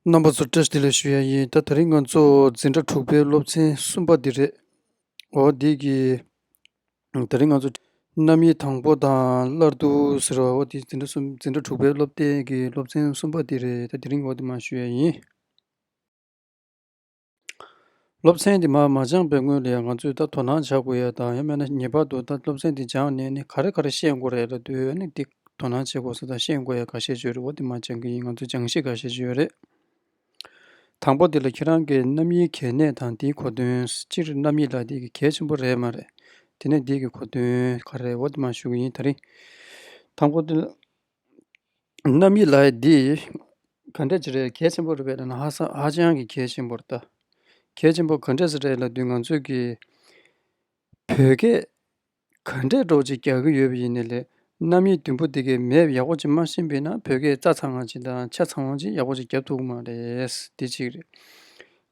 རྣམ་པ་ཚོ་བཀྲ་ཤིས་ལ་ཞུ་ཡ་ཡིན་ད་ད་རིང་ང་ཚོ་འཛིན་གྲྭ་དྲུག་པའི་སློབ་ཚན་གསུམ་པ་འདི་རེད་འོ་འདི་གི་ད་རིང་ང་ཚོ་རྣམ་དབྱེ་དང་པོ་དང་སླར་བསྡུ་ཟེར་བ་འོ་འདི་འཛིན་གྲྭ་གསུམ་འཛིན་གྲྭ་དྲུག་པའི་སློབ་དེབ་ཀྱི་སློབ་ཚན་གསུམ་པ་འདི་རེད་ད་དེ་རིང་འོ་འདི་མ་ཞུ་ཡ་ཡིན། སློབ་ཚན་དེ་མ་སྦྱངས་པའི་སྔོན་ལ་ཡང་ང་ཚོས་ད་དོ་སྣང་བྱ་དགོས་ཡ་ད་ཡ་མེད་ན་ངེས་པར་དུ་ད་སློབ་ཚན་དེ་སྦྱངས་ནས་ནི་ག་རེ་ག་རེ་ཤེས་དགོས་རེད་ལ་དུས་ཡོད་ནི་འདི་དོ་སྣང་བྱེད་དགོས་ས་དང་ཤེས་དགོས་ཡ་ག་ཤེས་བྱོས་རེད་བ་དེ་མ་སྦྱངས་ཀི་ཡིན་ང་ཚོས་སྦྱངས་ཤིག་ག་ཤེས་བྱོས་རེད། དང་པོ་དེ་ལ་ཁྱེད་རང་གི་རྣམ་དབྱེའི་གལ་གནད་དང་དེའི་གོ་དོན་སྤྱིར་རྣམ་དབྱེ་ལ་དེ་གི་གལ་ཆེན་པོ་རེད་མ་རེད་དེ་ནས་དེ་གི་གོ་དོན་ག་རེད་བ་དེ་མ་ཞུ་གི་ཡིན་ད་རིང། དང་པོ་དེ་ལ། རྣམ་དབྱེ་ལ་ཡིག་འདི་ག་འདྲ་ཅི་རེད་གལ་ཆེན་པོ་རེད་བལྟས་ན་ཧ་སང་ཧ་ཅང་གི་གལ་ཆེན་པོ་རེད་ད། གལ་ཆེན་པོ་ག་འདྲ་ཞིག་རེད་ལབ་དུས་ང་ཚོས་ཀྱི་བོད་སྐད་ག་འདྲས་སྒྲོག་ཅིག་རྒྱག་གི་ཡོད་པ་ཡིན་ནི་ལེ། རྣམ་དབྱེ་བདུན་པོ་དེ་གའི་མེད་ཡག་པོ་ཅིག་མ་ཤེས་པས་ན་བོད་སྐད་རྩ་ཚང་བ་ཅིག་དང་ཆ་ཚང་བ་ཅིག་ཡག་པོ་ཅིག་རྒྱབ་ཐུབ་གི་མ་རེད། འདི་གཅིག་རེད།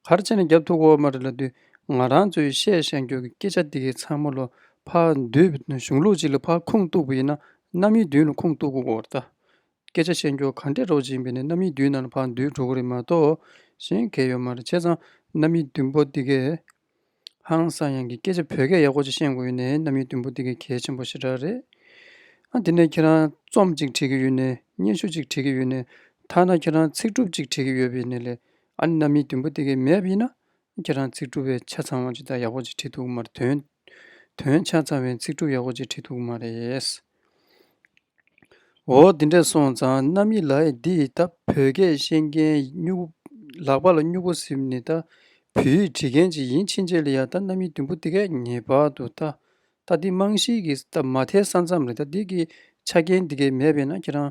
གར་བྱས་ནས་རྒྱབ་ཐུག་འོག་མ་རེ་ལ་འདུས། ང་རང་ཚོས་བཤད་བཤད་མགྱོགས་ཀྱི་སྐད་ཆ་འདི་གའི་ཚང་མ་ལོ་ཕག་མདུད་གཞུང་ལུགས་གཅིག་ལ་ཕག་ཁུངས་གཏུགས་པ་ཡིན་ན་གནམ་མིའི་མདུད་ལ་ཁུངས་གཏུགས་དགོས་ད། སྐད་ཆ་བཤད་མགྱོགས་ག་འདྲས་རོགས་བྱིན་པས་ནས་གནམ་མིའི་མདུད་ནང་ལ་ཕག་མདུད་འགྲོ་གི་རེད་མ་གཏོགས་གཞན་གས་ཡོད་མ་རེད་བྱས་ཙང་གནམ་མིའི་མདུད་འབོ་འདི་གས། ཧང་སང་ཡང་གི་སྐད་ཆ་བོད་སྐད་ཡག་པོ་ཅིག་ཤེས་དགོས་ཡོད་ནའི་རྣམ་གཡེང་དུམ་བུ་འདི་གའི་གལ་ཆེན་པོ་ཞེ་དྲག་རེད་ཨ། དེ་ནས་ཁྱེད་རང་རྩོམ་གཅིག་བྲིས་ཀྱི་ཡོད་ནའི་སྙན་ཞུ་གཅིག་བྲིས་ཀྱི་ཡོད་ནའི་ཐ་ན་ཁྱེད་རང་ཚིག་གྲུབ་ཅིག་བྲིས་ཀྱི་ཡོད་པའི་ནས་ལས་ཨ་ནི་རྣམ་གཡེང་དུམ་བུ་འདི་གའི་མེད་ཡིན་ན་ཁྱེད་རང་ཚིག་གྲུབ་བས་ཆ་ཚང་བ་ཇི་ལྟར་ཡག་པོ་ཅིག་བྲིས་འདུག་མར་དོན་དོན་ཆ་ཚང་བས་ཚིག་གྲུབ་ཡག་པོ་ཅིག་བྲིས་འདུག་མ་རེད། འོ་འདི་འདྲས་སོང་ཙང་རྣམ་གཡེང་ལ་འདི་ཡི་ད་བོད་སྐད་ཤེས་མཁན་སྨྱུག་གུ་ལག་པ་ལ་སྨྱུག་གུ་གཟིམ་ནི་ད་བོད་ཡིག་འབྲི་མཁན་ཅིག་ཡིན་ཕྱིན་ཆད་ལ་ཡ་ད་རྣམ་གཡེང་དུམ་བུ་འདི་གས་ངེས་པར་དུ་ད་ད་འདི་རྨང་གཞིའི་གི་ད་མ་མཐའི་ས་མཚམས་རེད་ད་འདི་གི་ཆ་རྐྱེན་འདི་གས་མེད་པས་ན་ཁྱེད་རང་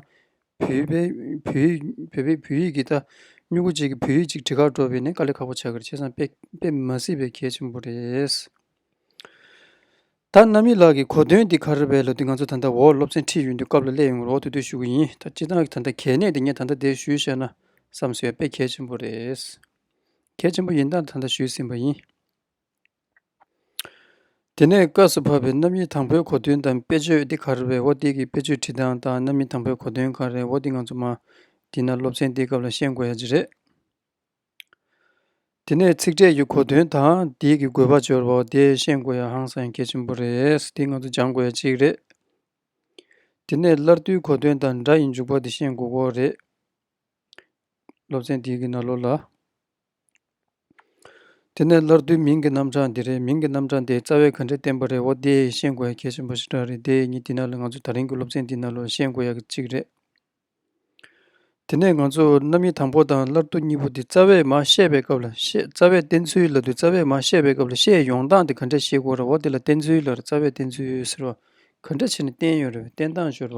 བོད་པས་བོད་ཡིག་བོད་པས་བོད་ཡིག་གི་ད་སྨྱུག་གུ་གཅིག་གིས་བོད་ཡིག་ཅིག་འབྲི་ཁར་འགྲོ་བས་ནས་དཀའ་ལས་ཁག་པོ་བྱ་གི་རེད་ཁྱེད་ཚང་དཔེ་དཔེ་མ་སྲིད་པའི་གལ་ཆེན་པོ་རེད། ད་རྣམ་གཡེང་ལགས་ཀྱི་གོ་དོན་འདི་ག་རེ་བས་ལ་དུས་ང་ཚོ་ད་ལྟ་འོག་སློབ་ཚན་ཁྲིད་ཡོད་དུས་སྐབས་ལ་སླེབས་ཡོང་བར་འོག་ཏུ་བསྡུ་ཞུ་གི་ཡིན་ད་སྤྱིར་བཏང་གི་ད་ལྟ་གལ་གནད་དེ་ངས་ད་ལྟ་འདིར་ཞུས་བཤད་ན་བསམ་ཟོལ་དཔེ་གལ་ཆེན་པོ་རེད། གལ་ཆེན་པོ་ཡིན་སྟངས་ད་ལྟ་ཞུས་ཟིན་པ་ཡིན། དེ་ནས་སྐབས་སུ་བབས་པའི་རྣམ་དབྱེ་དང་པོའི་གོ་དོན་དང་དཔེ་བརྗོད་འདི་ག་རེ་བས་འོག་འདི་གི་དཔེ་བརྗོད་ཁྲིད་སྟངས་དང་རྣམ་དབྱེ་དང་པོའི་གོ་དོན་ག་རེ་འོག་འདི་ང་ཚོ་མ་བྲིས་ན་སློབ་ཚན་འདིའི་སྐབས་ལ་ཤེས་དགོས་ཡ་ཇི་རེད། དེ་ནས་ཚིག་ཕྲད་ཀྱི་གོ་དོན་དང་བརྡས་ཀྱི་དགོས་པ་སྦྱོར་བའོ་དེ་ཤེས་དགོས་ཡ་ཧང་སངས་རྒྱས་ཆེན་པོ་རེད་འདི་ང་ཚོ་སྦྱང་དགོས་ཡ་གཅིག་རེད། དེ་ནས་སླར་བསྡུའི་གོ་དོན་དང་སྒྲ་ཡི་འཇུག་པ་དེ་ཤེས་དགོས་གོ་རེད། སློབ་ཚན་འདིའི་གི་ན་ལོ་ལ། དེ་ནས་སླར་བསྡུའི་མིང་གི་རྣམ་གྲངས་འདི་རེད་མིང་གི་རྣམ་གྲངས་དེ་རྩ་བའི་ག་འདྲས་བསྟན་པ་རེད་འོ་དེ་ཤེས་དགོས་ཡ་གལ་ཆེན་པོ་ཞེ་དྲག་རེད་དེ་གཉིས་འདི་ན་ལོ་ང་ཚོ་ད་རིང་གི་སློབ་ཚན་འདི་ན་ལོ་ཤེས་དགོས་ཡ་གཅིག་རེད། དེ་ནས་ང་ཚོས་རྣམ་དབྱེ་དང་པོ་དང་སླར་བསྡུ་གཉིས་པོ་འདི་རྩ་བས་མ་བཤད་པའི་སྐབས་ལ་བཤད་རྩ་བས་བསྟན་ཚུལ་ལ་བསྡུ་རྩ་བས་མ་བཤད་པའི་སྐབས་ལ་བཤད་ཡོང་སྟངས་དེ་ག་འདྲ་ཞིག་གོ་རེ་བ་འདི་ལ་བསྟན་ཚུལ་ལར་རྩ་བས་བསྟན་ཚུལ་ཟེར་བ་ག་འདྲ་བྱས་ནས་བསྟན་ཡོད་རེ་བའི་བསྟན་སྟངས་སྦྱོར་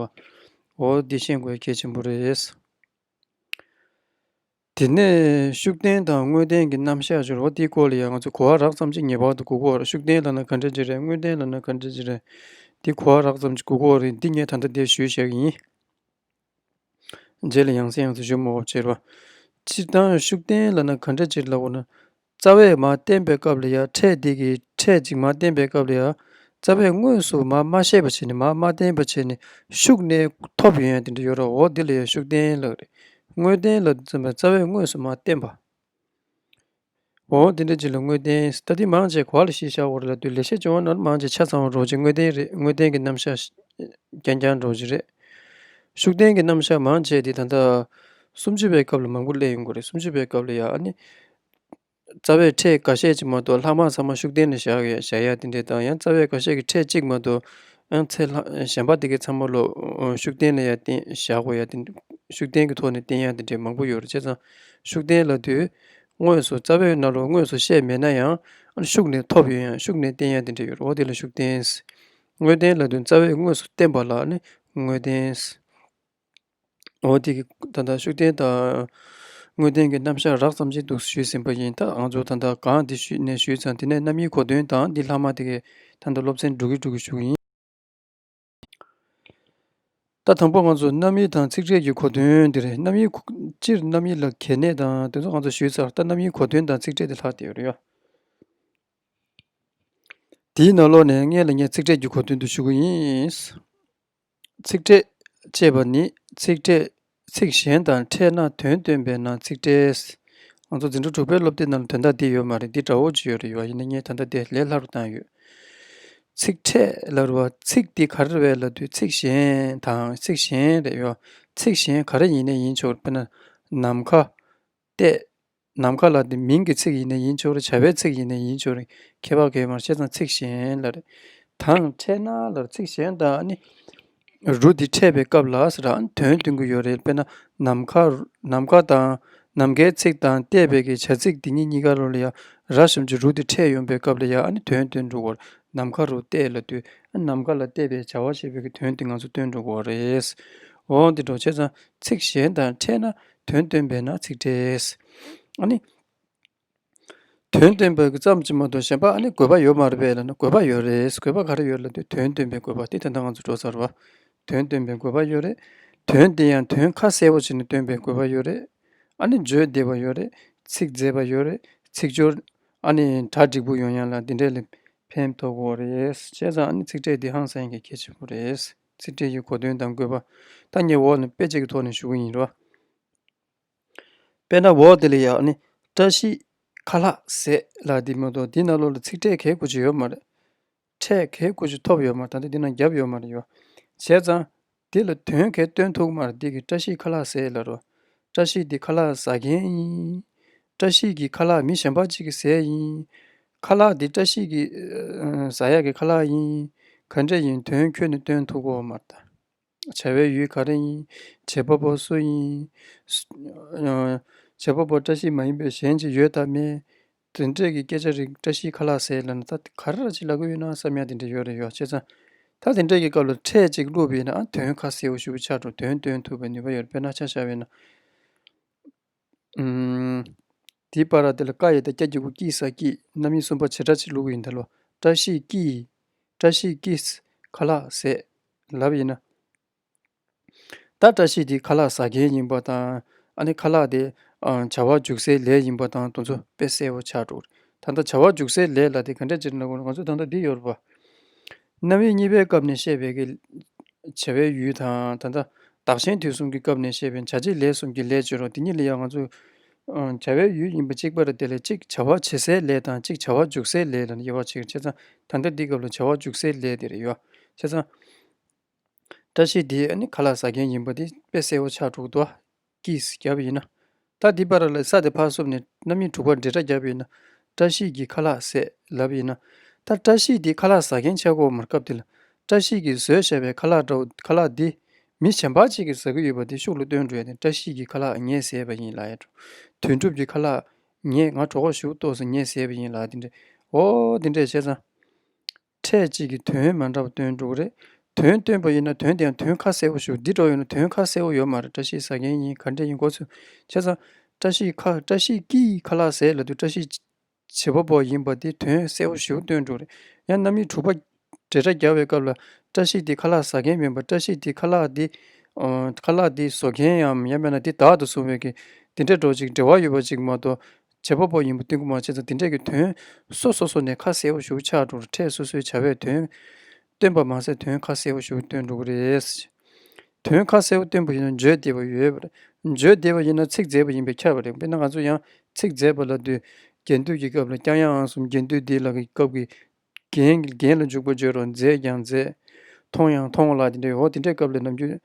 བའོ་འདི་ཤེས་དགོས་གལ་ཆེན་པོ་རེད། དེ་ནས་ཤུགས་ལྡན་དང་དངོས་ལྡན་གྱི་རྣམ་གཞག་སྦྱོར་བ་འདིའི་སྐོར་ལ་ཡང་ང་ཚོས་གོ་བ་རགས་ཙམ་གཅིག་ངེས་པར་དུ་གོ་དགོས་རེད་ཤུགས་ལྡན་ལ་ན་ག་འདྲ་ཅིག་རེད་དངོས་ལྡན་ལ་ན་ག་འདྲ་ཅིག་རེད་འདི་གོ་བ་རགས་ཙམ་གཅིག་གོ་དགོས་རེད་འདི་ངས་ད་ལྟ་འདིར་ཞུས་ཤག་ཡིན། རྗེས་ལ་ཡང་སྲིད་ཡང་སྲིད་ཞུ་མོ་བ་བྱེད་པ། སྤྱིར་བཏང་ཤུགས་ལྡན་ལ་ན་ག་འདྲ་ཅིག་ལ་གོ་ན། རྩ་བས་མ་བསྟན་པའི་སྐབས་ལ་ཡང་ཕྲད་དེ་གིས་ཕྲད་ཅིང་མ་བསྟན་པའི་སྐབས་ལ་ཡང་རྩ་བས་དངོས་སུ་མ་མ་ཤེས་པར་བྱས་ནས་མ་མ་བསྟན་པར་བྱས་ནས་ཤུགས་གནས་ཐོབ་ཡོན་ཏན་དུ་ཡོད་རོ་འོ་དེ་ལ་ཡང་ཤུགས་བསྟན་ལགས་རེ་དངོས་བསྟན་ལ་འཛིན་པའི་རྩ་བས་དངོས་སུ་མ་བསྟན་པའོ། དེ་འདྲ་ཅིག་ལ་དངོས་བསྟན་ལྟ་དེ་མང་བྱས་གོ་ལ་ཞེས་བྱ་བ་རོ་ལ་ལྟོས་ལེགས་བཤད་སྦྱོར་བ་ན་མང་བྱས་ཆ་ཚང་བ་རྡོ་རྗེ་དངོས་བསྟན་རེད་དངོས་བསྟན་གྱི་རྣམ་གཞག་རྐྱང་རྐྱང་རྡོ་རྗེ་རེད། ཤུགས་བསྟན་གྱི་རྣམ་གཞག་མང་བྱས་དེ་ད་ལྟ་སུམ་ཅུ་པའི་སྐབས་ལ་མང་པོ་གླེང་ཡོང་གི་རེད་སུམ་ཅུ་པའི་སྐབས་ལ་ཡང་ཨ་ནི། རྩ་བའི་ཕྲད་འགའ་ཤས་ཀྱིས་མ་གཏོགས་ལྷག་མར་ཚང་མ་ཤུགས་བསྟན་ནས་བཞག་ཡ་བཞག་ཡ་དེ་འདྲའི་བཏང་ཡང་རྩ་བའི་འགའ་ཤས་ཀྱིས་ཕྲད་གཅིག་མ་གཏོགས་ཚེ་ལྷག་གཞན་པ་དེ་གའི་ཚང་མ་ལོ་ཤུགས་བསྟན་ནས་ཡ་བསྟན་བཞག་གོ་ཡ་དེ་ཤུགས་བསྟན་གྱི་ཐོག་ནས་བསྟན་ཡ་དེ་འདྲའི་མང་པོ་ཡོད་རེད་བྱས་ཙང་ཤུགས་བསྟན་ལ་དུས་དངོས་སུ་རྩ་བའི་རྣ་ལོ་དངོས་སུ་བཤད་མེད་ན་ཡང་ཤུགས་ནས་ཐོབ་ཡོད་ཡང་ཤུགས་ནས་བསྟན་ཡ་དེ་འདྲ་ཡོད་རེད་འོ་དེ་ལ་ཤུགས་བསྟན་དངོས་བསྟན་ལ་དུས་རྩ་བའི་དངོས་སུ་བསྟན་པ་ལ་ནི་དངོས་བསྟན། འོ་དེ་གའི་ད་ལྟ་ཤུགས་ལྡན་དང། དངོས་བདེན་གྱི་རྣམ་གཞག་རགས་ཙམ་ཅིག་འདུག་ཞུས་ཟིན་པ་ཡིན་ད་ང་ཚོ་ད་ལྟ་གང་འདི་ཞུས་ནས་ཞུས་ཙང་དེ་ནས་རྣམ་དབྱེའི་གོ་དོན་དང་འདི་ལྷག་མ་དེ་གའི་ད་ལྟ་སློབ་ཚན་འགྲོ་གི་འགྲོ་གི་ཞུགས་ཡིན། ད་དང་པོ་ང་ཚོ་རྣམ་དབྱེ་དང་ཚིག་འགྲེལ་གྱི་གོ་དོན་འདི་རེད་རྣམ་དབྱེ། སྤྱིར་རྣམ་དབྱེ་ལ་གལ་གནད་དང་དེ་ཚོ་ང་ཚོ་ཞུས་ཚར་ད་རྣམ་དབྱེའི་གོ་དོན་དང་ཚིག་འགྲེལ་དེ་ལྷག་དེ་རེད། དེའི་ནང་ལོགས་ནས་མངལ་ལ་ཉལ་ཚིག་འགྲེལ་གྱི་གོ་དོན་དུ་ཞུགས་ཀྱི་ཡིན། ཚིག་ཕྲད། ཅེས་པ་ནི་ཚིག་ཕྲད་ཚིག་གཞན་དང་ཕྲད་ན་དོན་སྟོན་པས་ན་ཚིག་ཕྲད། ང་ཚོ་འཛིན་གྲྭ་དྲུག་པའི་སློབ་དེབ་རྣམས་ལ་དོན་དག་འདི་ཡོད་མ་རེད་འདི་འདྲ་བོ་ཅིག་ཡོད་རེད་ཡོད་ཡིན་ན་ངས་ད་ལྟ་དེ་ལས་སླ་རུ་བཏང་ཡོད། ཚིག་ཕྲད་ལ་རུ་བ་ཚིག་འདི་ག་རེ་རེད་ལ་དུས་ཚིག་གཞན་དང་ཚིག་གཞན་རེད་ཡོད་ཚིག་གཞན་ག་རེ་ཡིན་ན་ཡིན་ཆོག་དཔེར་ན་ནམ་མཁའ། ཏེ། ནམ་མཁའ་ལ་དེ་མིང་གི་ཚིག་ཡིན་ནས་ཡིན་ཆོག་རེ་བྱ་བའི་ཚིག་ཡིན་ནས་ཡིན་ཆོག་རེ་ཁྱད་པར་གས་མར་བཤད་ཙང་ཚིག་གཞན་ལ་རེ་དང་འཕྲད་ན་ལར་ཚིག་གཞན་དག་ནི་རུ་དེ་འཕྲད་པའི་སྐབས་ལ་ས་རང་དོན་སྟོན་གྱི་ཡོད་རེད་དཔེར་ན་ནམ་མཁའ་ནམ་མཁའ་དང་ནམ་མཁའི་ཚིག་དང་བལྟས་པའི་གས་བྱ་ཚིག་དེ་གཉིས་གཉིས་ཀ་རུ་ལ་ཡང་ར་གཞོམ་གྱི་རུ་དེ་འཕྲད་ཡོང་པའི་སྐབས་ལ་ཡང་དོན་སྟོན་འགྲོ་བར་ནམ་མཁའ་རུ་བལྟས་ལ་དུས་ནམ་མཁའ་ལ་བལྟས་པའི་བྱ་བ་ཞེས་པའི་གི་དོན་དེ་ང་ཚོ་སྟོན་འགྲོ་བར་རེད། འོང་དེ་འགྲོ་བྱས་ཙང་ཚིག་གཞན་དང་འཕྲད་ན་དོན་སྟོན་པས་ན་ཚིག་འགྲེས། ཨཱ་ནི། དོན་སྟོན་པ་ཙམ་གྱིས་མ་གཏོགས་གཞན་པ་ཨཱ་ནི་དགོས་པ་ཡོད་མ་རེད་པས་ན་དགོས་པ་ཡོད་རེད་དགོས་པ་ག་རེ་ཡོད་ལ་དེ་དོན་སྟོན་པའི་དགོས་པ་དེ་དེ་འདྲ་ང་ཚོ་འགྲོ་ཚར་བ། དོན་སྟོན་པའི་དགོས་པ་ཡོད་རེད། དོན་དེ་ཡང་དོན་ཁ་གསལ་བོ་བྱས་ནས་སྟོན་པའི་དགོས་པ་ཡོད་རེད། ཨཱ་ནི་བརྗོད་བདེ་བ་ཡོད་རེད། ཚིག་མཛེས་པ་ཡོད་རེད། ཚིག་སྦྱོར། ཨཱ་ནི་གྲ་འགྲིག་པོ་ཡོད་ཡང་ལ་འདི་འདྲས་ལས་ཕན་ཐོག་གོ་རེད། བྱས་ཙང་ཨཱ་ནི་ཚིག་འགྲེས་འདི་ཧང་སངས་ཀྱི་ཁྱད་ཆེན་པོ་རེད། ཚིག་འགྲེལ་གྱི་གོ་དོན་དང་བཀོད་པ་ཐ་སྙད་འོག་ནས་དཔེ་བྱད་ཀྱི་ཐོག་ནས་ཞུ་གི་ཡིན་རོ། དཔེར་ན་འོག་དེ་ལ་ཡང་ནི་བཀྲ་ཤིས་ཁ་ལྷག་ཟས་ལ་འདི་མ་གཏོགས་འདི་ན་ལོ་ལ་ཚིག་ཕྲད་གས་དགུ་ཅི་ཡོད་མ་རེད། ཕྲད་གས་དགུ་ཅི་ཐོབ་ཡོད་མ་ད་ལྟ་འདི་ན་བརྒྱབ་ཡོད་མ་རེད་ཡོད། བྱས་ཙང་འདི་ལ་དོན་གས་སྟོན་ཐུག་མ་རེད་འདི་གི་བཀྲ་ཤིས་ཁ་ལྷག་ཟས་ལ་རོ། བཀྲ་ཤིས་འདི་ཁ་ལག་ཟ་མཁན་ཡིན། བཀྲ་ཤིས་ཀྱི་ཁ་ལག་མི་གཞན་པ་གཅིག་གི་ཟས་ཡིན། ཁ་ལག་འདི་བཀྲ་ཤིས་ཀྱི་ཟ་ཡག་གི་ཁ་ལག་ཡིན། ག་འདྲས་ཡིན་དོན་ཁྱོད་ནི་སྟོན་ཐུག་གོ་མ་ད། བྱ་བའི་ཡུལ་ག་རེ་ཡིན། བྱེད་པ་པོ་སུ་ཡིན། བྱེད་པ་པོ་བཀྲ་ཤིས་མ་ཡིན་པའི་གཞན་ཅིག་ཡོད་དམ་མེད། དེ་འདྲས་ཀྱི་སྐད་ཆ་རིགས་བཀྲ་ཤིས་ཁ་ལག་ཟེར་ལབ་ན་ད་ག་རེ་ལ་ཅིག་ལབ་གི་ཡོད་ན་བསམ་ཡ་དེ་འདྲས་ཡོད་རེད་ཡོད་ཆེ་ཚང། ད་དེ་འདྲས་ཀྱི་སྐབས་ལ་ཕྲད་ཅིག་བླུག་པའི་ན་དོན་ཁ་གསལ་བོ་ཞུ་བའི་ཕྱག་དྲོ་དོན་སྟོན་ཐུབ་པའི་ནུས་པ་ཡོད་པས་ན་ཆ་བྱ་བའི་ན། དེའི་པར་ར་དེ་ལ་བཀའ་ཡི་དང་སྐྱ་གྱི་གུ་སྐྱིད་ས་སྐྱིད་རྣམ་དབྱེ་གསུམ་པ་བྱེ་བྲག་ཕྱི་ལུགས་ཡིན་ད་ལོ་བཀྲ་ཤིས་སྐྱིད་བཀྲ་ཤིས་སྐྱིད། ཁ་ལག་ཟས། ལབ་ཡིན་ན། ད་བཀྲ་ཤིས་དེ་ཁ་ལག་ཟ་མཁན་ཡིན་པ་དང་ཨ་ནི་ཁ་ལག་དེ་བྱ་བ་འཇུག་སའི་ལས་ཡིན་པ་དང་དུ་ཚོ་དཔེ་གསལ་བོ་ཆགས་འགྲོ་གི་རེད་ད་ལྟ་བྱ་བ་འཇུག་སའི་ལས་ལ་དེ་ག་འདྲ་བྱེད་ན་ཡག་གོ་རེད་ང་ཚོ་ད་ལྟ་འདི་ཡོད་རེད་པ། རྣ་བའི་གཉིས་པའི་སྐབས་ནས་བཤད་པའི་ཀྱི། བྱ་བའི་ཡུལ་དང། ད་ལྟ་བདག་གཞན་དུས་གསུམ་གྱི་སྐབས་ནས་བཤད་པའི་བྱ་བྱེད་ལས་གསུམ་གྱི་ལས་བརྗོད་རོགས་དེ་གཉིས་ལ་ཡང་ང་ཚོས། བྱ་བའི་ཡུལ་ཡིན་པ་གཅིག་པ་རེད་དེ་ལས་གཅིག་བྱ་བ་བྱེད་སའི་ལས་དང་གཅིག་བྱ་བ་འཇུག་སའི་ལས་ལ་དབྱེ་བ་ཕྱེ་ཚ། ད་ལྟ་འདི་སྐབས་ལ་བྱ་བ་འཇུག་སའི་ལས་དེ་རེད་ཡོད་པ་ཤེས་ཚ། བཀྲ་ཤིས་འདི་ཨ་ནི་ག་ལ་ཟ་མཁན་ཡིན་པ་འདི་དཔེ་གསལ་བོ་ཆགས་འགྲོ་གི་འདུག། ཀྱིས་བརྒྱབ་ཡིན་ན། ད་འདི་པར་ལ་ས་དེ་ཕར་སོབ་ནས་རྣམ་གཡེང་དྲུག་པར་འབྲེལ་སྒྲ་བརྒྱབ་ཡིན་ན། བཀྲ་ཤིས་ཀྱིས་ཁ་ལག་ཟས་ལབ་ཡིན་ན། ད་བཀྲ་ཤིས་འདི་ཁ་ལག་ཟ་མཁན་ཆགས་གོ་མར་སྐབས་འདི་ལ། བཀྲ་ཤིས་ཀྱིས་ཟོས་བཤད་པའི་ཁ་ལག་འདྲ་བོ་ཁ་ལག་འདི། མི་བྱེ་འབག་ཅིག་གིས་ཟ་གི་ཡོད་པ་འདི་ཤུགས་ལ་སྟོན་འགྲོ་ཡ་ནི་བཀྲ་ཤིས་ཀྱིས་ཁ་ལག་ངས་ཟས་པ་ཡིན་ལ་ཡ། དོན་གྲུབ་ཀྱིས་ཁ་ལག། ངས་ང་གྲོགས་ཁོག་ཞུགས་ཏོག་སོ་ངས་ཟས་པ་ཡིན་ལ་འདི་འདྲའི། འོ་འོ་འོ་འདི་འདྲས་བྱས་ཙང། ཕྲད་གཅིག་གིས་དོན་མ་འདྲ་བ་སྟོན་འགྲོ་གི་རེད། དོན་སྟོན་པ་ཡིན་ན་དོན་དེའང་དོན་ཁ་གསལ་བོ་ཞུ་འདི་འགྲོ་ཡོང་ན་དོན་ཁ་གསལ་བོ་ཡོད་མ་རེད་བཀྲ་ཤིས་ཟ་མཁན་གཉིས་ག་འདྲ་ཡིན་གོ་ཚུལ་ཆ་ཚང། བཀྲ་ཤིས་ཁ་བཀྲ་ཤིས་ཀྱིས་ཁ་ལག་ཟས་ལ་དུས་བཀྲ་ཤིས། བྱེད་པ་པོ་ཡིན་པ་དེ་དོན་གསལ་བོ་ཞུ་སྟོན་འགྲོ་གི་རེད། ཡང་རྣམ་དབྱེ་དྲུག་པ། འབྲེལ་སྒྲ་རྒྱག་པའི་སྐབས་ལ། བཀྲ་ཤིས་དེ་ཁ་ལག་ཟ་མཁན་མིན་པར་བཀྲ་ཤིས་དེ་ཁ་ལག་དེ། ཁ་ལག་དེ་བཟོ་མཁན་ཡང་ཡང་མེད་ན་དེ་བདག་ཏུ་བཟུང་བའི་གི། དེ་འདྲ་འགྲོ་ཅིག་འབྲེལ་བ་ཡོད་པ་ཅིག་མ་གཏོགས། བྱེད་པ་པོ་ཡིན་པ་ཏིང་ཀུ་མ་བྱེད་དང་དེ་འབྲེལ་གྱི་དོན། སོ་སོ་སོ་ནས་ཁ་གསལ་བོ་བཞུགས་ཕྱག་དྲུག་ལ་ཕྲད་སོ་སོའི་བྱ་བའི་དོན། སྟོན་པ་མ་ཟད་དོན་ཁ་གསལ་བོ་བཞུགས་སྟོན་དྲུག་རེད། དོན་ཁ་གསལ་བོ་སྟོན་པ་ཡིན་ན་བརྗོད་བདེ་བ་ཡོད། བརྗོད་བདེ་བ་ཡིན་ན་ཚིག་མཛེས་པ་ཡིན་པས་ཁྱབ་པ་རེད་དཔེར་ན་ང་ཚོ་ཡང་ཚིག་མཛེས་པ་ལ་འདུད། རྒྱན་བསྟོད་ཀྱི་སྐབས་ལ་སྐྱང་ཡང་ཨང་གསུམ་རྒྱན་བསྟོད་འདི་ལ་གི་སྐབས་ཀྱི། རྒྱན་ལ་འཇུག་པ་བརྗོད་རོགས་མཛེས་ཀྱང་མཛེས། མཐོང་ཡང་མཐོང་བ་ལགས་དེ་འདྲའི་འོ་དེ་འདྲའི་སྐབས་ལས་ནམ་རྒྱུན།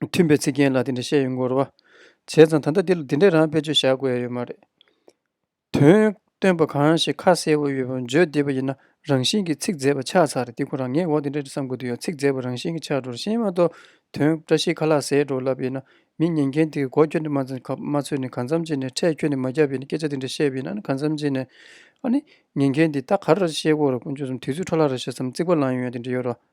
མཐུན་པའི་ཚིག་རྒྱན་ལ་དེ་འདྲ་བཤད་ཡོད་འགོར་བ་བྱས་ཙང་ད་ལྟ་འདི་ལ་དེ་འདྲའི་རང་དཔེ་བརྗོད་བཞག་དགོས་ཡ་ཡོད་མ་རེད། དོན་སྟོན་པ་གང་ཞིག་ཁ་གསལ་བོ་ཡོད་པ་བརྗོད་བདེ་བ་ཡིན་ན་རང་བཞིན་གྱིས་ཚིག་མཛེས་པ་ཆགས་ཚར་རེད་འདི་ཁོ་རང་ངས་འོ་དེ་འདྲ་བསམ་དགོས་དུས་ཡང་ཚིག་མཛེས་པ་རང་བཞིན་གྱིས་ཆགས་འགྲོ་རེད་ཤེས་མ་གཏོགས་དོན་བཀྲ་ཤིས་ཁ་ལག་ཟས་དྲོ་ལབ་ཡིན་ན་མི་ཉན་མཁན་དེ་གི་མགོ་ཁྱོད་ནས་མ་ཚོས་ནས་གང་འཚམ་བྱས་ནས་འཕྲལ་ཁྱོད་ནས་མ་བརྒྱབ་ཡིན་ན་སྐད་ཆ་དེ་འདྲ་བཤད་པ་ཡིན་ན་གང་འཚམ་བྱས་ནས་ཨ་ནི་ཉན་མཁན་དེ་ད་ག་རེ་ར་བཤད་དགོས་ར་དགོས་མཆོད་བསམ་དུས་ཚོད་འཕྲོ་བརླག་ར་བྱེད་བསམ་རྩིག་པ་ལང་ཡོང་ཡ་དེ་འདྲ་ཡོད་ར་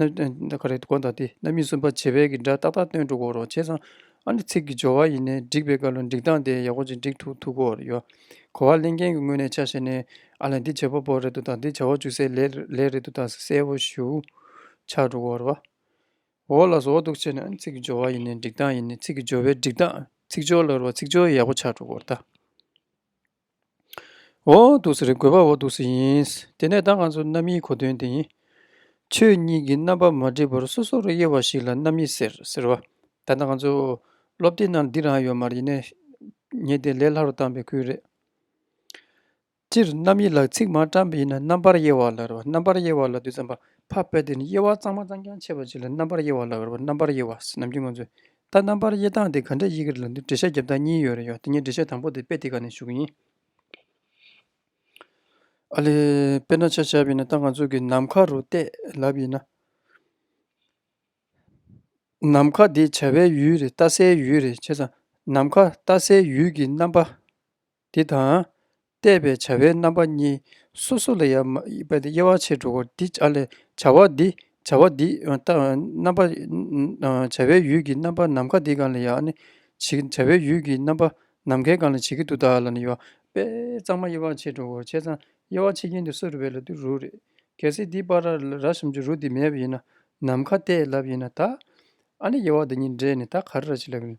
རྣམ་སྨིན་གསུམ་པ་བྱེད་དཔེ་གྱི་སྒྲ་ཏག་ཏག་སྟོན་འགྲོ་གོ་རོ་བྱས་ཙང། ཨ་ནི་ཚིག་གི་སྦྱོར་བ་ཡིན་ནས་འགྲིག་པའི་བཀའ་ལུང་འགྲིག་སྟངས་དེ་ཡག་པོ་ཅིག་འགྲིག་ཐུག་ཐུག་གོ་རེ་ཡོད། གོ་བ་གླེང་མཁན་གྱི་ངོས་ནས་ཆ་བཤད་ནས་ཨ་ལ་འདི་བྱེད་པོ་པོ་རེད་འདུག་དང་འདི་བྱ་བ་ཅུང་ཟད་ལེགས་རེད་འདུག་དང་གསལ་བོ་ཞུ། ཆགས་འགྲོ་གོ་རོ། འོ་ལ་ཟོ་འདུག་བྱས་ནས་ཨ་ནི་ཚིག་གི་སྦྱོར་བ་ཡིན་ནས་འགྲིག་སྟངས་ཡིན་ནས་ཚིག་གི་སྦྱོར་བའི་འགྲིག་སྟངས་ཚིག་སྦྱོར་ལ་རུ་བ་ཚིག་སྦྱོར་ཡག་པོ་ཆགས་འགྲོ་གོ་རོ་ད། འོག་ཏུ་ཟེར་དགོས་པ་འོག་ཏུ་ཟེར་ཡིན། དེ་ནས་བདག་ང་ཚོ་རྣམ་དབྱེའི་གོ་དོན་དེ་ཡིན། ཆོས་ཉིད་ཀྱི་རྣམ་པ་མ་བསྒྲིབས་པར་སོ་སོར་དབྱེ་བ་ཞིག་ལ་རྣམ་དབྱེ་ཟེར་ཟེར་བ། ད་ལྟ་ང་ཚོ་སློབ་དེབ་ནང་ལ་འདི་རང་ཡོད་མ་རེད་ནས་ཉན་ཏེ་ལས་སླ་རུ་བཏང་པའི་ཁུལ་རེད། སྤྱིར་རྣམ་དབྱེ་ལ་ཚིག་མ་བཀྲམ་པ་ཡིན་ན་རྣམ་པར་དབྱེ་བ་ལ་རེ་བ་རྣམ་པར་དབྱེ་བ་ལ་དུས་ཙམ་པ་ཕ་སྤེལ་ཏེ་དབྱེ་བ་གཙང་མ་གཙང་རྐྱང་ཕྱེ་བ་ཅིག་ལ་རྣམ་པར་དབྱེ་བ་ལ་རེ་བ་རྣམ་པར་དབྱེ་བ་ཟེར་ནམ་རྒྱུན་ང་ཚོས་ད་རྣམ་པར་དབྱེ་སྟངས་དེ་ག་འདྲས་དབྱེ་གི་རེད་ལ་འདིར་འགྲེལ་བཤད་རྒྱབ་སྟངས་གཉིས་ཡོད་རེད་ཡ་དེ་གཉིས་འགྲེལ་བཤད་དང་པོ་དེ་དཔེ་དེ་ག་ནས་ཞུགས་ཡིན། ཨ་ལས། དཔེར་ན་ཆ་ཞབས་ཡིན་ན་ད་ང་ཚོ་གི་ནམ་མཁའ་རུ་བལྟས་ལབ་ཡིན་ན། ནམ་མཁའ་དེ་བྱ་བའི་ཡུལ་རེད་ལྟ་སའི་ཡུལ་རེད་བྱས་ཙང་ནམ་མཁའ་ལྟ་སའི་ཡུལ་གྱི་རྣམ་པ་འདི་དང། བལྟས་པའི་བྱ་བའི་རྣམ་པ་གཉིས་སོ་སོ་ལ་ཡང་དབྱེ་བ་ཕྱེད་དྲུག་གོ། འདི་བྱ་བ་འདི་བྱ་བ་འདི་རྣམ་པ། བྱ་བའི་ཡུལ་གྱི་རྣམ་པ་ནམ་མཁའ་འདི་གང་ལ་ཡང་ནི་བྱེད། བྱ་བའི་ཡུལ་གྱི་རྣམ་པ་ནམ་མཁའི་གང་ལ་བྱེད་ཀྱི་དུ་དག་ལ་ནི་ཡོད་པས་གཙང་མ་དབྱེ་བ་ཕྱེད་དྲུག་གོ། བྱས་ཙང་དབྱེ་བ་ཕྱེད་ཀྱིན་དུ་སོ་རུ་བས་ལ་དུ་རུ་རེད། གལ་སྲིད་འདི་པར་ར་གསུམ་གྱི་རུ་འདི་མེད་པ་ཡིན་ན་ནམ་མཁའ་ལྟས་ལབ་ཡིན་ན་དག། ཨ་ནི་དབྱེ་བ་འདི་གཉིས་འདྲེས་ནས་ད་ག་རེ་ར་བྱེད་ལབ་ཡིན།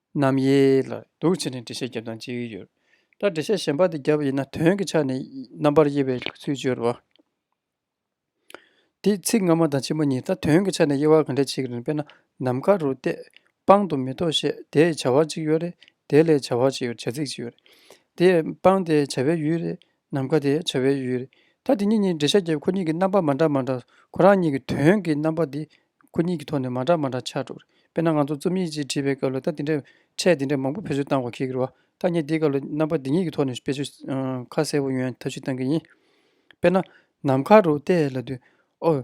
རྣམ་དབྱེ་ལ་འདུ་བྱེད་ནི་འགྲེལ་བཤད་བརྒྱ་དང་གཅིག་ཡོད། ད་འགྲེལ་བཤད་གཞན་པ་དེ་བརྒྱ་པ་ཡིན་ན་དོན་གྱི་ཆ་ནས་རྣམ་པར་དབྱེ་བའི་ཚུལ་སྦྱོར་བ། འདིས་ཚིག་སྔ་མ་དང་ཕྱི་མ་གཉིས་ད་དོན་གྱི་ཆ་ནས་དབྱེ་བ་གང་འགྲེལ་བྱེད་ཀྱི་རིང་དཔེར་ན་ནམ་མཁའ་རུ་བལྟས། པང་དུ་མེ་ཏོག་བཤད་དེའི་བྱ་བ་གཅིག་ཡོད་རེད་དེ་ལས་བྱ་བ་གཅིག་ཡོད་བྱ་ཚིག་གཅིག་ཡོད་རེད་དེ། པང་དེའི་བྱ་བའི་ཡུལ་རེད་ནམ་མཁའ་དེ་བྱ་བའི་ཡུལ། ད་དེ་གཉིས་གཉིས་འབྲེལ་ཤར་རྒྱས་ཁོ་གཉིས་ཀྱི་རྣམ་པ་མ་འདྲ་མ་འདྲ་ཁོ་རང་གཉིས་ཀྱི་དོན་གྱི་རྣམ་པ་དེ་ཁོ་གཉིས་ཀྱི་ཐོག་ནས་མ་འདྲ་མ་འདྲ་ཆགས་འགྲོ། དཔེར་ན་ང་ཚོ་རྩོམ་ཡིག་ཅིག་བྲིས་པའི་སྐབས་ལ་ད་དེ་འདྲའི་ཕྲད་དེ་འདྲའི་མང་པོ་བེད་སྤྱོད་བཏང་དགོས་ཁེལ་གི་རོ། ཐ་སྙད་དེའི་སྐབས་ལ་རྣམ་པ་འདི་གཉིས་ཀྱི་ཐོག་ནས་བེད་སྤྱོད་ཁ་གསལ་བོ་ཡོན་ཐབས་ཤིག་བཏང་གི་ཡིན། དཔེར་ན། ནམ་མཁའ་རུ་བལྟས་ལ་དུས། ཨོ།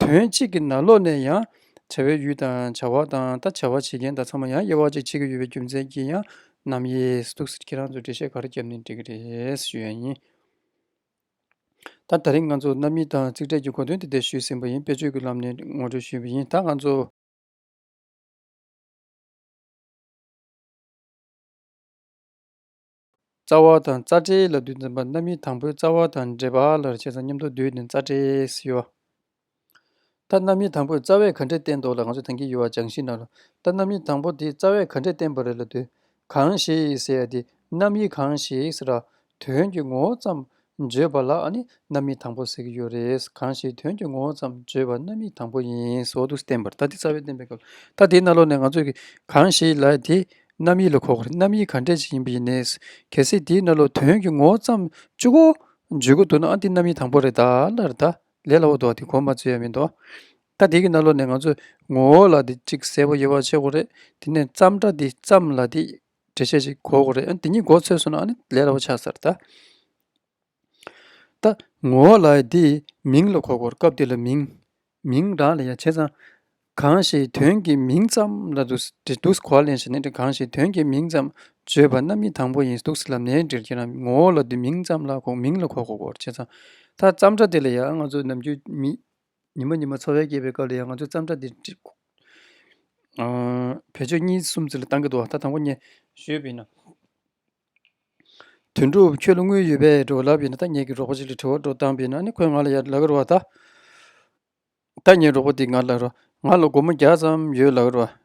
དོན་གཅིག་གི་ནང་ལོགས་ནས་ཡང་བྱ་བའི་ཡུལ་དང་བྱ་བ་དང་ད་བྱ་བ་བྱེད་མཁན་དག་ཚང་མ་ཡང་དབྱེ་བ་གཅིག་བྱེད་ཀྱི་ཡོད་པའི་རྒྱུ་མཚན་གྱིས་ཡང་ནམ་དབྱེས་འདུག་ཟེར་ཁྱེད་རང་ཚོས་འགྲེལ་བཤད་ག་རེ་བརྒྱབ་ནས་འགྲིག་གི་རེད་ཞུ་ཡ་ཡིན། ད་ད་རིང་ང་ཚོ་རྣམ་གཉིས་དང་ཚིག་ཕྲད་ཀྱི་གོ་དོན་དེ་དེ་ཞུས་ཟིན་པ་ཡིན་དཔེར་བརྗོད་ཀྱི་ལམ་ནས་ངོ་སྤྲོད་ཞུས་པ་ཡིན་ད་ང་ཚོ། རྩ་བ་དང་རྩ་འབྲེལ་ལ་བདུད་འཛིན་པ་རྣམ་དབྱེ་དང་པོའི་རྩ་བ་དང་འབྲེལ་པ་ལ་བྱས་ཙང་སྙམ་དུ་བདུད་ནི་རྩ་འབྲེལ་སུ་ཡོད། ད་རྣམ་དབྱེ་དང་པོས་རྩ་བའི་ག་འདྲེ་བསྟན་འདོགས་ལ་ང་ཚོས་དེང་གི་ཡུལ་བ་སྦྱང་གཞི་ན་ལ་ད་རྣམ་དབྱེ་དང་པོ་དེས་རྩ་བའི་ག་འདྲེ་བསྟན་པ་རེད་ལ་བདུད་གང་ཞིག་ཟེར་ཡ་དེ་རྣམ་དབྱེ་གང་ཞིག་ར་དོན་གྱི་ངོ་བོ་ཙམ་བརྗོད་པ་ལ་ནི་རྣམ་དབྱེ་དང་པོ་ཟེར་གྱི་ཡོད་རེད། གང་ཞིག་དོན་གྱི་ངོ་བོ་ཙམ་བརྗོད་པ་རྣམ་དབྱེ་དང་པོ་ཡིན། སོགས་དུ་བསྟན་པར་ལྟ་དེ་རྩ་བའི་བསྟན་པའི་སྐབས་ལ་ལྟ་དེའི་སྣ་ལོགས་ནས་ང་ཚོས་གི་གང་ཞིག་ལ་དེ་རྣམ་དབྱེ་ལ་གོ་གི་རྣམ་དབྱེ་ག་འདྲས་ཅིག་ཡིན་པ་ཡིན་ནས། གལ་སྲིད་དེའི་སྣ་ལོགས་དོན་གྱི་ངོ་བོ་ཙམ་བཅུག་གོ། བརྗོད་གོ་འདུག་ན་འདི་རྣམ་དབྱེ་དང་པོ་རེད་ད་ལར་ད་ལས་ལ་འོ་འདུག་དེ་གོ་མ་ཚུད་ཡ་མི་འདུག་ད་དེ་གི་སྣ་ལོགས་ནས་ང་ཚོས་ངོ་བོ་ལ་དེ་གཅིག་གསལ་པོ་ཡོད་པ་ཤེས་གོ་རེད་དེ་ནས་ཙམ་སྒྲ་དེ་ཙམ་ལ་དེ་འགྲེལ་བཤད་ཅིག་གོ་གོ་རེད་ཨ་འདི་གཉིས་མགོ་ཚོས་སོང་ན་ཨ་ནི་ལས་སླ་བོ་ཆགས་ཚར་ད། ད། ངོ་བོ་ལ་ཡི་དེའི་མིང་ལ་གོ་གོ་སྐབས་འདི་ལ་མིང། མིང་རང་ལ་ཡ་བྱས་ཙང། གང་ཞིག་དོན་གྱི་མིང་ཙམ་ལ་འདུག་སེ་འདུག་སེ་གོ་བ་ལེན་བཞིན་ནི་གང་ཞིག་དོན་གྱི་མིང་ཙམ་བརྗོད་པ་རྣམ་དབྱེ་དང་པོ་ཡིན་འདུག་སེ་ལབ་ནའི་འགྲེལ་གྱི་རང་ངོ་བོ་ལ་དེ་མིང་ཙམ་ལ་གོ་མིང་ལ་གོ་གོ་གོ་བྱས་ཙང། ད་ཙམ་སྒྲ་དེ་ལ་ཡ་ང་ཚོ་ནམ་རྒྱུན་མི། ཉིན་མོ་ཉིན་མོ་འཚོ་བའི་སྐྱེས་པའི་སྐབས་ལ་ཡང་ང་ཚོས་བརྩམས་སྒྲ་འདི་འབྲི། བོད་ཆོས་གཉིས་གསུམ་ཚུལ་ལ་བཏང་གི་འདུག་ད་དང་པོ་ངས་ཞུས་པ་ཡིན་ན། དོན་གྲུབ་ཁྱོད་ལ་དངུལ་ཡོད་པས་འགྲོ་ལབ་ཡིན་ན་ད་ངེད་ཀྱི་གྲོགས་པོ་ཞིག་ལ་དྲི་བ་དྲོ་བཏང་པ་ཡིན་ན་ཁོས་ང་ལ་ཡར་ལག་རོ་བ་ད། ད་ངའི་གྲོགས་པོ་དེས་ང་ལ་ལག་རོ། ང་ལ་སྒོར་མོ་བརྒྱ་ཙམ་ཡོད་ལག་རོ་བ།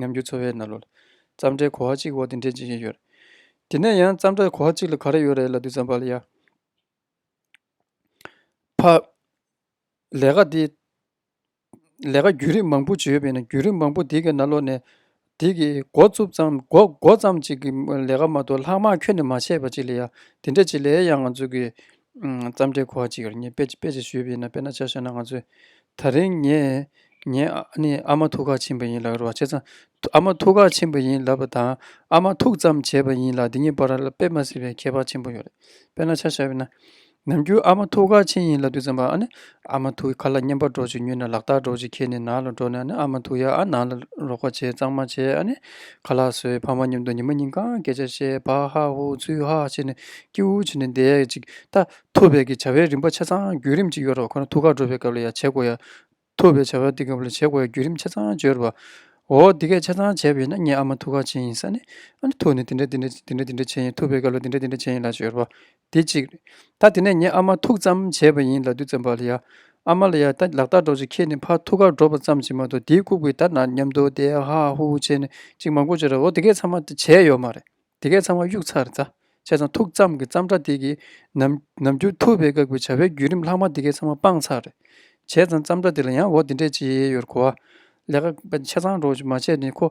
ཉམས་འགྱུར་འཚོལ་བའི་རྣ་ལོ། རྩམ་སྒྲའི་གོ་བ་གཅིག་འོག་ཏུ་འདྲེན་བྱེད་ཀྱིན་ཡོད། དེ་ནས་ཡང་རྩམ་སྒྲ་གོ་བ་གཅིག་ལ་ག་རེ་ཡོད་རེད་ལ་དུས་ཙམ་བར་ལ་ཡ། ཕ། ལས་ཀ་འདི། ལས་ཀ་བརྒྱུད་རིམ་མང་པོ་བྱས་ཡོད་པས་ན་བརྒྱུད་རིམ་མང་པོ་དེ་གའི་རྣ་ལོ་ནས། དེ་གའི་མགོ་བཙུགས་ཙམ་མགོ་མགོ་ཙམ་གཅིག་གི་ལས་ཀ་མ་གཏོགས་ལྷག་མ་ཁྱོན་ནས་མ་བྱས་པ་གཅིག་ལ་ཡ། དེ་འདྲ་གཅིག་ལས་ཡང་ང་ཚོ་གིས་རྩམ་སྐྱའི་གོ་བ་གཅིག་གིས་ངས་དཔེ་ཅིག་ཞུས་པ་ཡིན་ན་དཔེར་ན་ཆ་བཤད་ན་ང་ཚོས་ད་རིང་ངས་ངའི་ནི་ཨ་མ་ཐུགས་ཁག་ཆེན་པོ་ཡིན་ལབ་རོགས་བྱས་ཙང་ཨ་མ་ཐུགས་ཁག་ཆེན་པོ་ཡིན་ལབ་པ་དང་ཨ་མ་ཐུགས་ཙམ་བྱས་པ་ཡིན་ལ་འདི་གཉིས་བར་ལ་དཔེ་མ་སྲིད་པའི་ཁྱད་པར་ཆེན་པོ་ཡོད་རེད་དཔེར་ན་ཆ་བཤད་པ་ཡིན་ན་ནམ་རྒྱུན་ཨ་མ་ཐུགས་ཁག་ཆེན་ཡིན་ལབ་དུས་རྩམ་པ་ཨ་ནི་ཨ་མ་ཐུག་ཁ་ལ་བསྙེན་པར་འགྲོ་ཅིག་ཉུལ་ན་ལག་རྟགས་སྒྲོག་ཅིག་ཁྱེད་ནི་ནང་ལ་འགྲོ་ནས་ནི་ཨ་མ་ཐུག་ཡ་ཨ་ནང་ལ་རོགས་པ་བྱེད་གཙང་མ་བྱེད་ཨ་ནི་ཁ་ལག་བཟོས་ཕ་མ་མཉམ་དུ་ཉི་མ་གཉིས་གང་སྐད་ཆ་བཤད་བག་ཧ་ཧུ་ཚུལ་ཧ་བྱེད་ནས་སྐྱིད་འུར་བྱེད་ནས་བསྡད་ཅིག་ད་ཐུག་བལ་གྱི་བྱ་བའི་རིམ་པ་ཆ་ཚང་བརྒྱུད་རིམ་གཅིག་ཡོད་རོགས་ཁོ་ན་ཐུག་ཁར་འགྲོ་བའི་སྐབས་ལ་ཡ་བྱེད་དགོས་ཡ་ཐུག་བལ་བྱ་བ་འདི་སྐབས་ལ་བྱེད་དགོས་ཡ་བརྒྱུད་རིམ་ཆ་ཚང་བརྗོད་རོགས་པ་འོ་འདི་སྐད་ཆ་ཚང་བྱས་པ་ཡིན་ན་ངས་ཨ་མ་ཐུག་ཁ་བྱིན་ཡིན་ས་ནི་ཨ་ནི་ཐུག་ནི་འདི་འདྲ་འདི་འདྲ་འདི་འདྲ་འདི་འདྲ་བྱེད་ཡིན་ཐུག་བལ་སྐབས་ལ་འདི་འདྲ་འདི་འདྲ་བྱེད་ཡིན་ལ་བརྗོད་རོགས་པ། དེ་གཅིག། ད་དེ་ནས་ངས་ཨ་མ་ཐུག་ཙམ་བྱས་པ་ཡིན་ལ་དུས་ཙམ་བར་ལ་ཡ། ཨ་མ་ལ་ཡ་ད་ལག་རྟགས་འགྲོ་ཅིག་ཁྱེད་ནི་ཕར་ཐུག་ཁར་འགྲོ་བ་ཙམ་གྱིས་མ་གཏོགས་དེའི་ལྐུགས་པའི་ད་ན་སྙམ་དུ་དེ་ཧ་ཧ་ཧུ་ཧུ་བྱས་ནས་ཅིག་མ་གོ་ཅིག་ར་འོ་དེ་གས་ཚང་མ་བྱས་ཡོད་མ་རེད་དེ་གས་ཚང་མ་གཡུགས་ཚར་རྩ་བྱས་ཙང་ཐུག་ཙམ་གྱི་ཙམ་སྒྲ་དེ་གིས་ནམ་ནམ་རྒྱུ་ཐུབ་པའི་བཀག་པའི་བྱ་བའི་བརྒྱུད་རིམ་ལྷག་མ་དེ་གས་ཚང་མ་སྤངས་ཚར་རེད་བྱས་ཙང་ཙམ་སྒྲ་དེ་ལ་ཡང་འོ་དེ་འདྲས་ཅིག་ཡོད་རེད་གོ་ལས་ཀ་བྱས་ཙང་འགྲོ་ཅིག་མ་བྱས་ནས་ཁོ།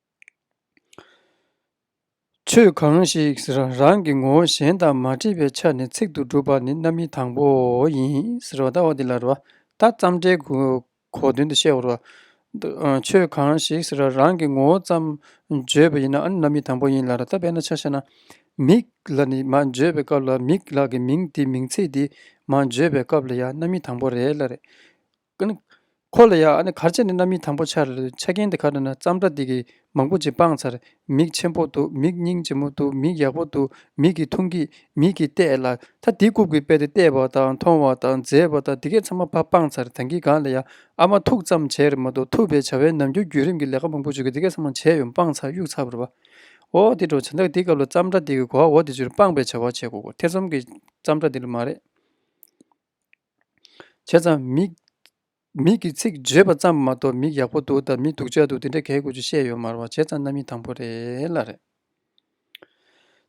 ཆོས་གང་ཞིག་རང་རང་གི་ངོ་བོ་གཞན་དང་མ་འདྲེས་པའི་ཆ་ནས་ཚིག་ཏུ་སྒྲུབ་པ་ནི་རྣམ་དབྱེ་དང་པོ་ཡིན། ད་བརྩམས་འགྲེལ་གོ་དོན་དུ་བཤད་བར། ཆོས་གང་ཞིག་རང་རང་གི་ངོ་བོ་ཙམ་བརྗོད་པ་ཡིན་ན་རྣམ་དབྱེ་དང་པོ་ཡིན་ལ། ད་དཔེར་ན་ཆ་བཤད་ན། མིག་ལ་ནི་མ་བརྗོད་པའི་སྐབས་ལ་མིག་ལ་གི་མིང་དེ་མིང་ཚིག་འདི་མ་བརྗོད་པའི་སྐབས་ལ་ཡང་རྣམ་དབྱེ་དང་པོ་རེད་ལ། ཁོ་ལ་ཡང་ཨ་ནི་གར་བྱེད་ནི་རྣམ་སྨིན་དང་པོ་ཆ་རེ་རེད་ཆ་རྐྱེན་དེ་ག་དུས་ན་བརྩམས་སྒྲ་འདི་གིས་མང་པོ་ཅིག་སྤངས་ཚར་མིག་ཆེན་པོ་འདུག་མིག་སྙིང་ལྗིད་མོ་འདུག་མིག་ཡག་པོ་འདུག་མིག་གིས་མཐོང་གི་མིག་གིས་བལྟས་ལ་ད་དེ་རྐུབ་ཀྱིས་བལྟས་ཏེ་བལྟས་པ་དང་མཐོང་བ་དང་མཛེས་པ་དང་དེ་གས་ཚང་མ་ཕ་སྤངས་ཚར་ད་གིན་གང་ལ་ཡང་ཨ་མ་ཐུག་ཙམ་བྱས་རེད་མ་གཏོགས་ཐུབ་པའི་བྱ་བའི་ནམ་རྒྱུན་བརྒྱུད་རིམ་གྱི་ལས་ཀ་མང་པོ་ཅིག་གིས་དེ་གས་ཚང་མ་བྱས་ཡོད་སྤངས་ཚར་གཡུགས་ཚར་བར་བ། འོ་དེ་འགྲོ་བྱ་འདག་དེའི་སྐབས་ལ་བརྩམས་སྒྲ་འདི་གིས་གོ་བ་འོ་དེ་ཚུལ་སྤངས་པའི་བྱ་བ་བྱེད་དགོས་གོ་ཐེ་ཚོམ་གྱི་བརྩམས་སྒྲ་འདི་ལ་མ་རེད། བྱས་ཙང་མིག། མིག་གི་ཚིག་བརྗོད་པ་ཙམ་མ་གཏོགས་མིག་ཡག་པོ་འདུག་དང་མིག་སྡུག་ཅག་འདུག་དེ་འདྲ་གས་དགོས་ཆུ་བཤད་ཡོད་མར་བ་བྱས་ཙང་རྣམ་དབྱེ་དང་པོ་རེད་ལ་རེད།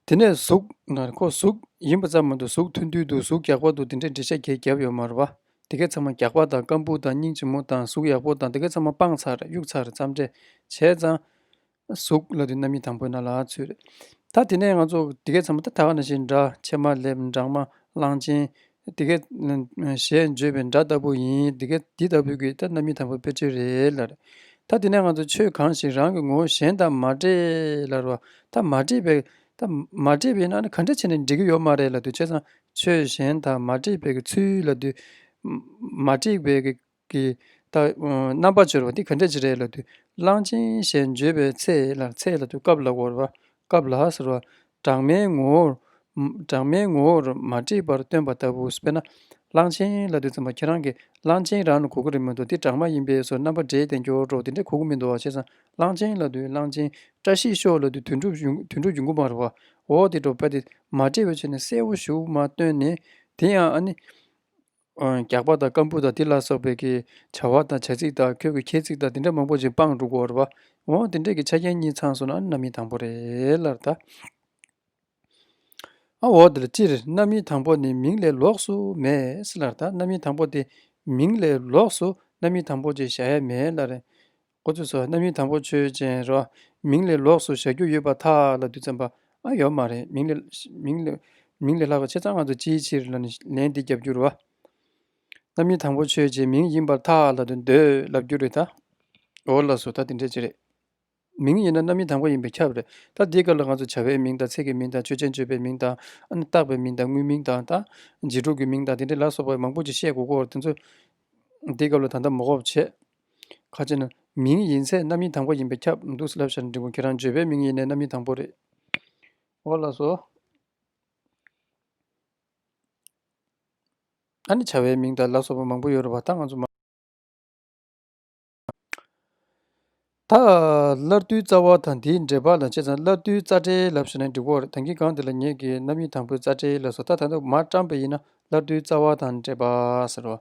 དེ་ནས་གཟུགས། ནར་ཁོག་གཟུགས། ཡིན་པ་ཙམ་མ་གཏོགས་གཟུགས་ཐུང་ཐུང་འདུག་གཟུགས་གགས་པ་འདུག་དེ་འདྲའི་འགྲེལ་བཤད་གས་བརྒྱབ་ཡོད་མར་བ། དེ་གས་ཚང་མ་གགས་པ་དང་སྐམ་སྦུག་དང་སྙིང་རྗེ་མོ་དང་གཟུགས་ཡག་པོ་དང་དེ་གས་ཚང་མ་སྤང་ཚར་གཡུགས་ཚར་ཙམ་འདྲེས་བྱས་ཙང། གཟུགས་ལ་རྣམ་དབྱེ་དང་པོ་ན་ལ་ཚུད། ད་དེ་ནས་ང་ཚོ་དེ་གས་ཚང་མ་ད་ད་ག་ནས་བཞིན་འདྲ་ཕྱེ་མ་ལེབ་འབྲང་མ་གླང་ཆེན། དེ་གས། ཞེས་བརྗོད་པའི་འདྲ་ལྟ་བུ་ཡིན་དེ་གས་དེ་ལྟ་བུའི་གིས་ད་རྣམ་དབྱེ་དང་པོའི་དཔེར་བརྗོད་རེད་ལར། ད་དེ་ནས་ང་ཚོ་ཆོས་གང་ཞིག་རང་གི་ངོ་བོ་གཞན་དང་མ་འདྲེས་ལར་བ་ད་མ་འདྲེས་པའི་ད་མ་འདྲེས་པའི་ཡིན་ན་ག་འདྲ་བྱས་ནས་འདྲེས་ཀྱི་ཡོད་མ་རེད་ལ་དུས་བྱས་ཙང་ཆོས་གཞན་དང་མ་འདྲེས་པའི་གི་ཚུལ་ལ་དུས། མ་འདྲེས་པའི་གི་ཀྱི། རྣམ་པར་སྦྱོར་བ་འདི་ག་འདྲ་ཅི་རེད་ལ་དུ། གླང་ཆེན་ཞེས་བརྗོད་པའི་ཚེ་ལ་ཚེ་ལ་དུ་སྐབས་ལ་བོར་བ། སྐབས་ལ་ཟེར་བ། སྦྲགས་མའི་ངོ་བོར། སྦྲགས་མའི་ངོ་བོར་མ་བྲིས་པར་སྟོན་པ་ལྟ་བུ་དཔེར་ན། གླང་ཆེན་ལ་དུ་ཙམ་པ་ཁྱེད་རང་གིས་གླང་ཆེན་རང་ལ་གོ་གི་རེད་མི་འདུག་འདི་སྦྲགས་མ་ཡིན་པས་སོ་རྣམ་པར་འགྲེལ་དེ་འགྱུར་འགྲོ་དེ་འདྲ་གོ་གི་མི་འདུག་བ་བྱས་ཙང་གླང་ཆེན་ལ་དུ་གླང་ཆེན། བཀྲ་ཤིས་ཤོག་ལ་དུ་དུད་འགྲོ་དུད་འགྲོ་རྒྱུན་གོམས་པར་བ། འོ་དེ་འགྲོ་པ་དེ་མ་བྲིས་པའི་ཆ་ནས་གསལ་བོ་ཞུ་མ་སྟོན་ནས་དེ་ཡང་ཨ་ནི། རྒྱགས་པ་དང་སྐམ་ཕུ་དང་དེ་ལ་སོགས་པའི་ཀྱི་བྱ་བ་དང་བྱ་ཚིག་དང་ཁྱོད་ཀྱི་ཁྱད་ཚིག་དང་དེ་འདྲ་མང་པོ་ཅིག་སྤངས་འདུག་གོ་རེད་པ། འོང་དེ་འདྲས་ཀྱི་ཆ་རྐྱེན་གཉིས་ཚང་སོང་ན་རྣམ་དབྱེ་དང་པོ་རེད་ལར་ད། འོང་དེ་ལ་སྤྱིར་རྣམ་དབྱེ་དང་པོ་ནི་མིང་ལས་ལོགས་སུ་མེད་ལར་ད་རྣམ་དབྱེ་དང་པོ་དེ་མིང་ལས་ལོགས་སུ་རྣམ་དབྱེ་དང་པོ་ཅིག་བཞག་ཡ་མེད་ལར། འགོ་ཚུགས་སོ་རྣམ་གཡེང་དང་པོ་ཆོས་ཅན་རོ། མིང་ལས་ལོགས་སུ་བཞག་རྒྱུ་ཡོད་པ་དག་ལ་བདུད་ཙམ་པ་ཨ་ཡོད་མ་རེད་མིང་ལས། མིང་ལས་ལྷག་པའི་ཆེ་ཚང་ང་ཚོ་ཅིའི་ཕྱིར་ལ་ནི་ལན་འདི་རྒྱབ་རྒྱུར་རོ། རྣམ་གཡེང་དང་པོ་ཆོས་ཅན་མིང་ཡིན་པར་ཐག་ལ་འདོད་ལབ་རྒྱུ་རེད་ད། འོ་ལགས་སོ་ད་དེ་འདྲས་ཅི་རེད། མིང་ཡིན་ན་རྣམ་གཡེང་དང་པོ་ཡིན་པས་ཁྱབ་རེད་ད་དེའི་སྐབས་ལ་ང་ཚོ་བྱ་བའི་མིང་དང་ཚིག་གི་མིང་དང་ཆོས་ཅན་བརྗོད་པའི་མིང་དང། བཏགས་པའི་མིང་དང་དངོས་མིང་དང་ད། རྗེས་འགྲོ་གི་མིང་དང་དེ་འདྲས་ལ་སོགས་པ་མང་པོ་ཅིག་བཤད་དགོས་སྐོར་དེ་ཚོ། དེའི་སྐབས་ལ་ད་ལྟ་མོ་གོ་བྱེད། ཁ་ཆེ་ན། མིང་ཡིན་ཚད་རྣམ་དབྱེ་དང་པོ་ཡིན་པས་ཁྱབ། འདུག་ཟེར་ལབ་ཤར་འབྲིང་པོ་ཁྱེད་རང་བརྗོད་པའི་མིང་ཡིན་ནའི་རྣམ་དབྱེ་དང་པོ་རེད། འོ་ལགས་སོ། ཨ་ནི་བྱ་བའི་མིང་དང་ལ་སོགས་པ་མང་པོ་ཡོད་རུང་བ་ད་ང་ཚོ་མ། ད། སླར་བསྡུའི་རྩ་བ་དང་དེའི་འགྲེལ་པ་ལ་བྱས་ཙང་སླར་བསྡུའི་རྩ་འགྲེལ་ལབ་ཤར་ནས་འགྲིག་གོ། དེང་གི་སྒང་འདི་ལ་ངེད་ཀྱིས་རྣམ་དབྱེ་དང་པོའི་རྩ་འགྲེལ་ལབ་སོ་ད་ད་དུ་མར་བཀྲམ་པ་ཡིན་ན་སླར་བསྡུའི་རྩ་བ་དང་འགྲེལ་པ་ཟེར་རོ།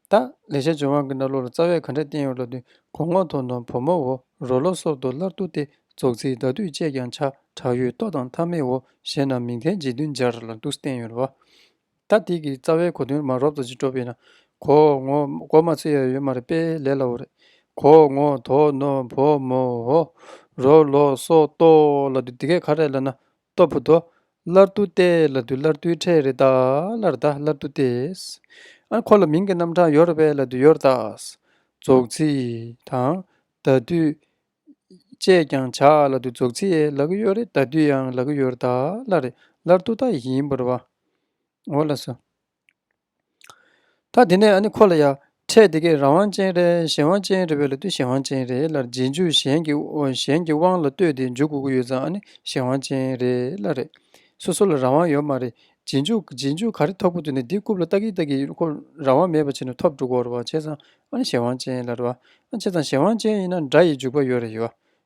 ད་ལས་བྱ་བྱེད་དབང་གི་སྣ་ལོ་ལ་རྩ་བས་ག་འདྲ་བསྟན་ཡོད་ལབ་དུས་གོང་འོག་མཐོ་ནོམ་བུ་མོ་འོ་རོ་ལོ་སོགས་དུ་སླར་བསྡུ་སྟེ་རྫོགས་ཚིག་བདག་བསྡུས་བཅས་ཀྱང་བྱ་བྲག་ཡོད་ལྟོ་དང་ཐ་མའི་འོ་ཞེས་ནང་མིང་མཁན་རྗེ་བདུན་སྦྱར་ལ་འདུག་བསྟན་ཡོད་ལ། ད་ལྟིག་གི་རྩ་བའི་གོ་དོན་མ་རོབ་རྩ་ཅིག་སྤྲོ་བས་ན། གོང་འོག་མགོ་མ་ཚུད་ཡ་ཡོད་མ་རེད་པས་ལས་ལ་འོ་རེད། གོང་འོག་མཐོ་ནོམ་བུ་མོ་འོ་རོ་ལོ་སོགས་གཏོགས་ལ་དུས་འདི་གས་ཁ་རས་ལ་ན་ལྟོ་བུ་དོ། སླར་དུ་སྟེ་ལ་དུ་སླར་དུའི་ཕྲད་རེ་དག་ལར་དག་སླར་དུ་སྟེ། འཁོར་ལོ་མིང་གི་རྣམ་གྲངས་ཡོར་བས་ལ་དུ་ཡོར་དག། རྫོགས་ཚིག་དང། ད་དུས། ཅེས་ཀྱང་བྱ་ལ་དུ་རྫོགས་ཚིག་ཡལ་གི་ཡོར་རེ་ད་དུས་ཡང་ལ་གི་ཡོར་དག་ལ་རེ་སླར་དུ་དག་ཡིན་པར་བའོ། ལ་སོ། ད་དེ་ནས་ཁོ་ལ་ཡང་ཕྲད་དེ་གས་རང་དབང་ཅན་རེད་གཞན་དབང་ཅན་རེད་བས་ལ་ལྟོས་གཞན་དབང་ཅན་རེད་ལར་རྗེས་འཇུག་གཞན་གྱི་གཞན་གྱི་དབང་ལ་ལྟོས་ཏེ་འཇུག་དགོས་ཀྱི་ཡོད་ཙང་གཞན་དབང་ཅན་རེད་ལ་རེད་སོ་སོ་ལ་རང་དབང་ཡོད་མ་རེད་རྗེས་འཇུག་རྗེས་འཇུག་ག་རེ་ཐོབ་ཁུ་དུ་ནས་འདི་རྐུབ་ལ་བཏགས་གིན་བཏགས་གིན་ཁོ་རང་དབང་མེད་པ་བྱས་ནས་ཐོབ་འགྲོ་དགོས་རེད་བྱས་ཙང་གཞན་དབང་ཅན་ལ་རེད་བྱས་ཙང་གཞན་དབང་ཅན་ཡིན་ན་འདྲ་ཡི་འཇུག་པ་ཡོད་རེད་ཡོད་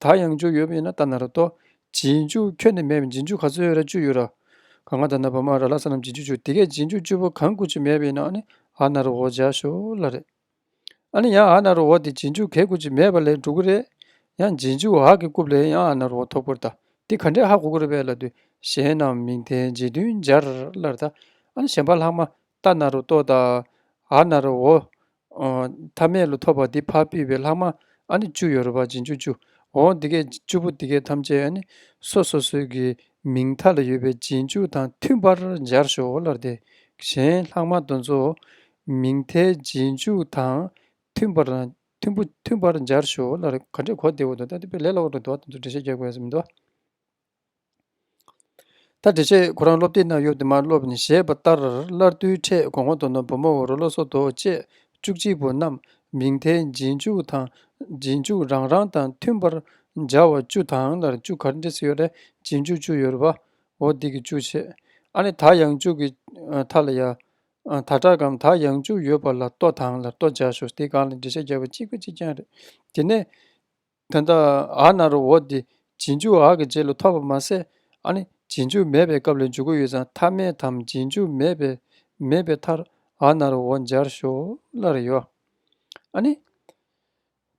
ད་ཡང་འཇུག་ཡོད་ཡིན་ན་ད་ན་ར་ཏོ། རྗེས་འཇུག་ཁྱོད་ནི་མེད་པས་རྗེས་འཇུག་ག་ཚོད་ཡོད་ར་བཅུ་ཡོད་ར། ག་ང་ད་ན་བ་མ་ར་ལ་ས་རྣམས་རྗེས་འཇུག་བཅུ་དེ་གས་རྗེས་འཇུག་བཅུ་པོ་གང་དགུ་བཅུ་མེད་པ་ཡིན་ན་ཨ་ནི་ཨ་ན་རོ་འོ་འཇགས་ཞོ་ལ་རེད། ཨ་ནི་ཡང་ཨ་ན་རོ་འོ་དེ་རྗེས་འཇུག་གས་དགུ་བཅུ་མེད་པ་ལས་འགྲོ་གི་རེད། ཡང་རྗེས་འཇུག་ཨ་གི་རྐུབ་ལས་ཡང་ཨ་ན་རོ་འོ་ཐོབ་གི་རེད་ད། འདི་ག་འདྲའི་ཧ་གོ་གི་རེད་བས་ལ་དུས་གཞན་རྣམས་མིང་དེ་རྗེས་མཐུན་སྦྱར་ལ་རེད་ད། ཨ་ནི་གཞན་པ་ལྷག་མ་ད་ན་རོ་ཏོ་དང། ཨ་ན་རོ་འོ། ཐ་མལ་ལོ་ཐོབ་པ་འདི་ཕར་ཕུལ་བའི་ལྷག་མ་ཨ་ནི་བཅུ་ཡོད་རེད་པ་འབྱིན་བཅུ་བཅུ་འོ་འདི་སྐད་བཅུ་པོ་འདི་སྐད་ཐམས་ཅད་ཨ་ནི་སོ་སོ་སོའི་གི་མིང་མཐའ་ལ་ཡོད་པའི་རྗེས་འཇུག་དང་མཐུན་པར་སྦྱར་ཞོག་ཨོ་ལར་དེ་གཞན་ལྷག་མ་དོན་གཙོ་མིང་མཐའི་རྗེས་འཇུག་དང་མཐུན་པར་དང་མཐུན་པོ་མཐུན་པར་སྦྱར་ཞོག་ཨོ་ལར་ག་འདྲས་གོ་བདེ་བོ་དོ་ད་དེ་པས་ལས་སླ་བོ་དོ་དོ་བ་དོན་གཙོ་འགྲེལ་བཤད་རྒྱག་དགོས་ཡ་ས་མི་འདུག། ད་བྲེ་ཆེ་ཁོ་རང་སློབ་དེབ་ནང་ཡོད་དུ་མ་སློབ་ནས་བཞེད་པ་ལྟར་སླར་དུས་འཕྲད་དགོང་མོ་དོ་ནུབ་བུ་མོ་འོ་རོ་ལོ་སོ་རྡོ་བཅས་བཅུ་གཅིག་པོ་རྣམས་མིང་མཐའི་རྗེས་འཇུག་དང་རྗེས་འཇུག་རང་རང་དང་མཐུན་པར་སྦྱར་བ་བཅུ་དང་ལར་བཅུ་གར་འདྲི་ས་ཡོད་རེད་རྗེས་འཇུག་བཅུ་ཡོད་རེད་བ་འོ་འདི་གི་བཅུ་ཆེ་ཨ་ནི་ད་ཡང་བཅུ་གི་ཐ་ལ་ཡ་ད་དྲག་གམ་ད་ཡང་བཅུ་ཡོད་པ་ལ་ལྟོ་དང་ལར་ལྟོ་སྦྱར་ཞོར་དེ་གང་ལ་འགྲེལ་བཤད་རྒྱག་པ་གཅིག་པ་གཅིག་རྐྱང་རེད་དེ་ནས། དོན་དག་ཨ་ན་རོ་འོ་དེ་རྗེས་འཇུག་ཨ་གི་རྗེས་ལ་ཐོབ་པ་མ་ཟད་ཨ་ནི་རྗེས་འཇུག་མེད་པའི་སྐབས་ལ་འཇུག་གི་ཡོད་ཙང་ཐ་མའི་དམ་རྗེས་འཇུག་མེད་པས་མེད་པའི་མཐར་ཨ་ན་རོ་འོ་སྦྱར་ཞོག་སླར་ཡོད་ཨ་ནི།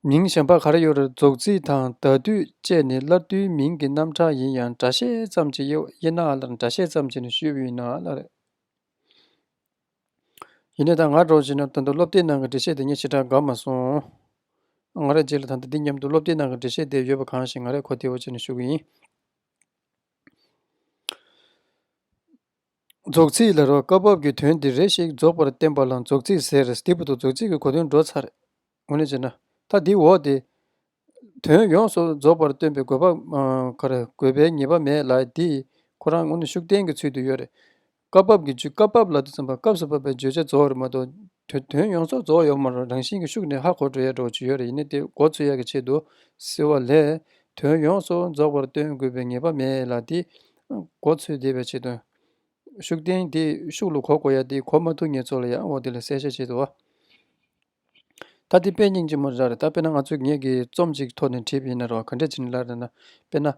མིང་གཞན་པ་གར་ཡོད་རེ་རྫོགས་ཚིག་དང་ད་དུས་བཅས་ནི་སླར་དུས་མིང་གི་རྣམ་གྲངས་ཡིན་ཡང་སྒྲ་བཤད་ཙམ་གྱི་དབྱེ་ན་ཨ་སླར་སྒྲ་བཤད་ཙམ་གྱི་ནི་ཞུས་ཡིན་ན་ཨ་སླར། ཡིན་ནའི་ད་ང་གྲོངས་ཤིག་ན་ད་དུང་སློབ་དེབ་ནང་གི་འགྲེལ་བཤད་དེ་ངས་ཕྱི་དྲག་དགའ་མ་སོང། ང་རེད་རྗེས་ལ་ད་ལྟ་འདི་མཉམ་དུ་སློབ་དེབ་ནང་གི་འགྲེལ་བཤད་དེ་ཡོད་པ་གང་ཞིག་ང་རེད་གོ་ཐེ་བོ་བྱས་ནས་ཞུ་གི་ཡིན། རྫོགས་ཚིག་ལ་རོ་སྐབས་བབ་ཀྱི་དོན་འདི་རེ་ཞིག་རྫོགས་པར་བསྟན་པ་ལ་རྫོགས་ཚིག་ཟེར། དེ་བུ་དོ་རྫོགས་ཚིག་གི་གོ་དོན་འགྲོ་ཚར། ངོ་ནས་བྱས་ན། ཐ་དེའི་འོག་སྟེ། དོན་ཡོངས་སུ་རྫོགས་པར་སྟོན་པའི་དགོས་པ་གར་དགོས་པའི་ངེས་པ་མེད་ལ་དེས་ཁོ་རང་ངོ་ནས་ཤུགས་བསྟན་གྱི་ཚུལ་དུ་ཡོད་རེད། སྐབས་བབ་ཀྱི་རྒྱུད་སྐབས་བབ་ལ་དུ་ཚང་བ་སྐབས་སུ་བབ་པའི་བརྗོད་བྱ་རྫོགས་རེད་མ་གཏོགས། དོན་ཡོངས་སུ་རྫོགས་ཡོད་མ་རེད་རང་བཞིན་གྱི་ཤུགས་ནི་ཧ་གོ་འགྲོ་ཡ་འགྲོ་བྱེད་ཡོད་རེད་ཡིན་ན་དེ་འགོ་འཚོལ་ཡ་གི་ཆེད་དུ་ཟེར་བ་ལས། དོན་ཡོངས་སུ་རྫོགས་པར་སྟོན་དགོས་པའི་ངེས་པ་མེད་ལ་དེས་འགོ་འཚོལ་བདེ་བའི་ཆེད་དུ། ཤུགས་བསྟན་དེས་ཤུགས་ལ་གོ་དགོས་ཡ་དེ་གོ་མ་ཐུབ་ངེས་ཚོ་ལ་ཡང་འོག་འདི་ལ་གསལ་བཤད་བྱེད་དོ། ད་དེ་དཔེ་རྙིང་ཅན་མོ་རེད་ར་རེད་ད་དཔེར་ན་ང་ཚོས་ངེད་ཀྱིས་རྩོམ་གཅིག་ཐོག་ནས་བྲིས་པ་ཡིན་ན་རེད་བ་ག་འདྲས་བྱེད་ནི་ལར་རེད་ན། དཔེར་ན།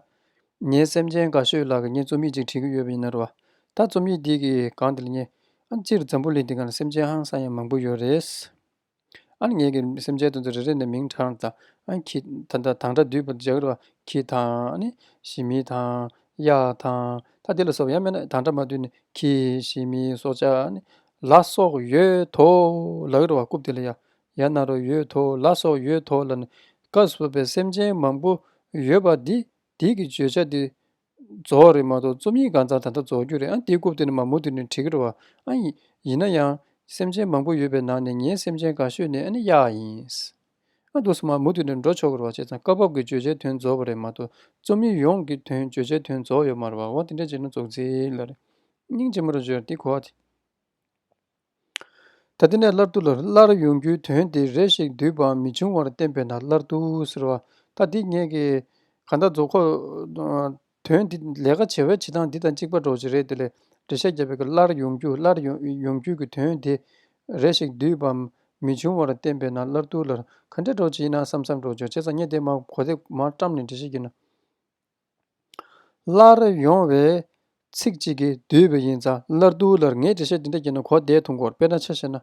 ངའི་སེམས་ཅན་དགའ་ཤོས་ལགས་ཀྱིས་ངས་རྩོམ་ཡིག་ཅིག་བྲིས་ཀྱི་ཡོད་པ་ཡིན་ན་རེད་བ། ད་རྩོམ་ཡིག་འདི་གི་སྒང་དེ་ལ་ཉན། ཨ་སྤྱིར་འཛམ་བུ་གླིང་འདི་ག་ན་སེམས་ཅན་ཧང་སང་ཡང་མང་པོ་ཡོད་རེད། ཨ་ནི་ངེད་ཀྱིས་སེམས་ཅན་དེ་ཚོ་རེ་རེ་ནས་མིང་གྲགས་དང། ཁྱི། དང། དང་དང་འདྲ་བསྡུས་པ་འཇགས་རེད་བ། ཁྱི་དང། ཨ་ནི། ཞི་མི་དང། གཡག་དང། ད་དེ་ལ་སོགས་པ་ཡང་མེད་ན་དང་འདྲ་མ་བསྡུས་ནས་ཁྱི། ཞི་མི། སྲོག་ཆགས། ཨ་ནི། ལ་སོགས་ཡོད་དོ། ལག་རི་བ་རྐུབ་སྟེགས་ལ་ཡ་ཡ་ན་རོ་ཡོད་དོ། ལ་སོགས་ཡོད་དོ་ལ་ནི་བཀའ་སྲོལ་པའི་སེམས་ཅན་མང་པོ་ཡོད་པ་འདི་འདི་གི་བརྗོད་བྱ་འདི་རྫོགས་རེད་མ་གཏོགས་རྩོམ་ཡིག་གང་ཚང་ད་ལྟ་རྫོགས་རྒྱུ་རེད་ཨང་འདི་རྐུབ་སྟེགས་ནི་མ་མོ་དེ་ནི་བྲིས་རི་བ་ཨང་ཡིན་ན་ཡང་སེམས་ཅན་མང་པོ་ཡོད་པའི་ནང་ནས་ངའི་སེམས་ཅན་ག་ཤོས་ནི་ཨ་ནི་གཡག་ཡིན། ཨ། དུས་སྨྲ་མུ་མཐུད་ནས་འགྲོ་ཆོག་གི་རེད་བ་བྱས་ཙང་སྐབས་བབ་ཀྱི་བརྗོད་བྱའི་དོན་རྫོགས་པ་རེད་མ་གཏོགས་རྩོམ་ཡིག་ཡོངས་ཀྱི་དོན་བརྗོད་བྱའི་དོན་རྫོགས་ཡོད་མ་རེད་བ་འོ་དེ་འདྲ་བྱས་ན་རྫོགས་ཚེའི་ལ་རེད་སྙིང་རྗེ་མོ་རེ་བརྗོད་དེ་གོ། ད་དེ་ནས་སླར་དུ་ལ་སླར་ཡོང་རྒྱུའི་དོན་དེ་རེ་ཞིག་བསྡུས་པའམ་མི་འབྱུང་བར་བསྟན་པས་ན་སླར་དུ་ཟེར་བ་ད་དེ་ངེད་ཀྱིས་ག་འདྲ་རྫོགས་ཁོག་དོན་འདི་ལས་ཀ་བྱེད་པའི་བྱེད་སྟངས་འདི་དང་གཅིག་པ་གྲོགས་བྱེད་རེད་དེ་ལས་འབྲེལ་ཤ་རྒྱགས་པའི་གི་སླར་ཡོང་རྒྱུ་སླར་ཡོང་རྒྱུ་གི་དོན་དེ་རེ་ཞིག་བསྡུས་པ་མི་བྱུང་བར་བསྟན་པས་ན་སླར་ཐུགས་ལར་ག་འདྲའི་གྲོགས་བྱེད་ཡིན་ན་བསམ་བསམ་གྲོགས་བྱེད་བྱས་ཙང་ཉེ་འདས་མ་གོ་དེ་མ་བཀྲམ་ནས་འབྲེལ་ཤ་རྒྱུ་ན། སླར་ཡོང་བའི་ཚིག་ཅིག་གིས་བསྡུས་པ་ཡིན་ཙང་སླར་ཐུགས་ལར་ངས་འབྲེལ་ཤ་འདི་འདྲ་རྒྱུ་ན་གོ་དེའི་དུང་འཁོར་དཔེར་ན་ཆ་བྱས་ན།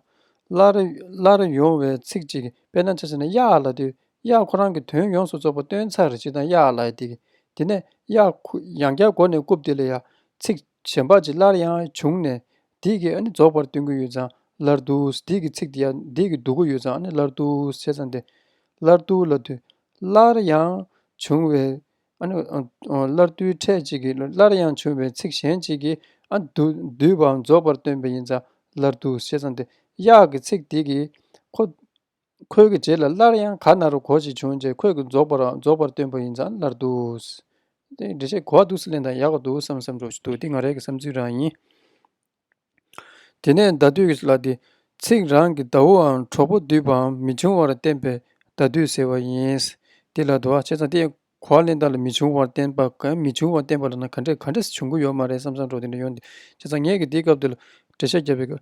སླར་ཡོང་བའི་ཚིག་ཅིག་གིས་དཔེར་ན་ཆ་བྱས་ན་གཡག་ལ་དུས་གཡག་ཁོ་རང་གི་དོན་ཡོངས་སུ་རྫོགས་པ་སྟོན་ཚར་རེ་ཅིག་དང་གཡག་ལ་ཡང་དེ་དེ་ནས་གཡག་ཁུ་ཡང་བསྐྱར་མགོ་ནས་རྐུབ་དེ་ལ་ཡང་ཚིག་གཞན་པ་ཅིག་སླར་ཡང་བྱུང་ནས་འདིས་ཀྱིས་ཨ་ནི་རྫོགས་པར་སྟོན་གྱི་ཡོད་ཙང་སླར་འདུག་འདིས་ཀྱིས་ཚིག་དེ་ཡང་འདིས་ཀྱིས་འདུག་གི་ཡོད་ཙང་ཨ་ནི་སླར་འདུག་བྱས་ཙང་དེ་སླར་འདུག་ལ་དུས་སླར་ཡང་བྱུང་བས་ཨ་ནི་སླར་འདུག་ཕྲད་ཅིག་གིས་སླར་ཡང་བྱུང་བས་ཚིག་གཞན་ཅིག་གིས་ཨ་འདུག་འདུས་པའང་རྫོགས་པར་སྟོན་པས་ཡིན་ཙང་སླར་འདུག་བྱས་ཙང་དེ་གཡག་གི་ཚིག་དེས་ཀྱིས་ཁོ། ཁོལ་གྱི་རྗེས་ལ་སླར་ཡང་ག་ན་རུ་གོ་ཞིག་བྱུང་རྗེས་ཁོལ་གྱི་རྫོགས་པ་རང་རྫོགས་པར་སྟོན་པ་ཡིན་ཙང་སླར་འདུག། དེ་འདྲི་བྱེད་གོ་བ་འདུག་སེ་ལེན་དང་ཡག་པ་འདུག་བསམ་བསམ་འགྲོ་བཞིན་འདུག་འདི་ང་རེ་གི་བསམ་ཚུལ་རང་ཡིན། དེ་ནས་ཟླ་དུས་ལ་དེ་ཚིག་རང་གི་ཟླ་བོའམ་གྲོགས་པོ་འདུས་པའམ་མི་འབྱུང་བར་བསྟན་པས་ཟླ་དུས་ཟེར་བ་ཡིན། འདི་ལ་དུ་བ་བྱས་ཙང་དེ་གོ་བ་ལེན་སྟངས་ལ་མི་འབྱུང་བར་བསྟན་པ་གམ་མི་འབྱུང་བར་བསྟན་པ་ལ་ན་ག་འདྲས་ག་འདྲས་སུ་འབྱུང་གི་ཡོད་མ་རེད་བསམ་བསམ་འགྲོ་དེ་འདྲ་ཡོད་འདུག་བྱས་ཙང་ངེད་ཀྱིས་འདིའི་སྐབས་འདི་ལ་འགྲེལ་བཤད་བརྒྱབ་པའི་སྐབས།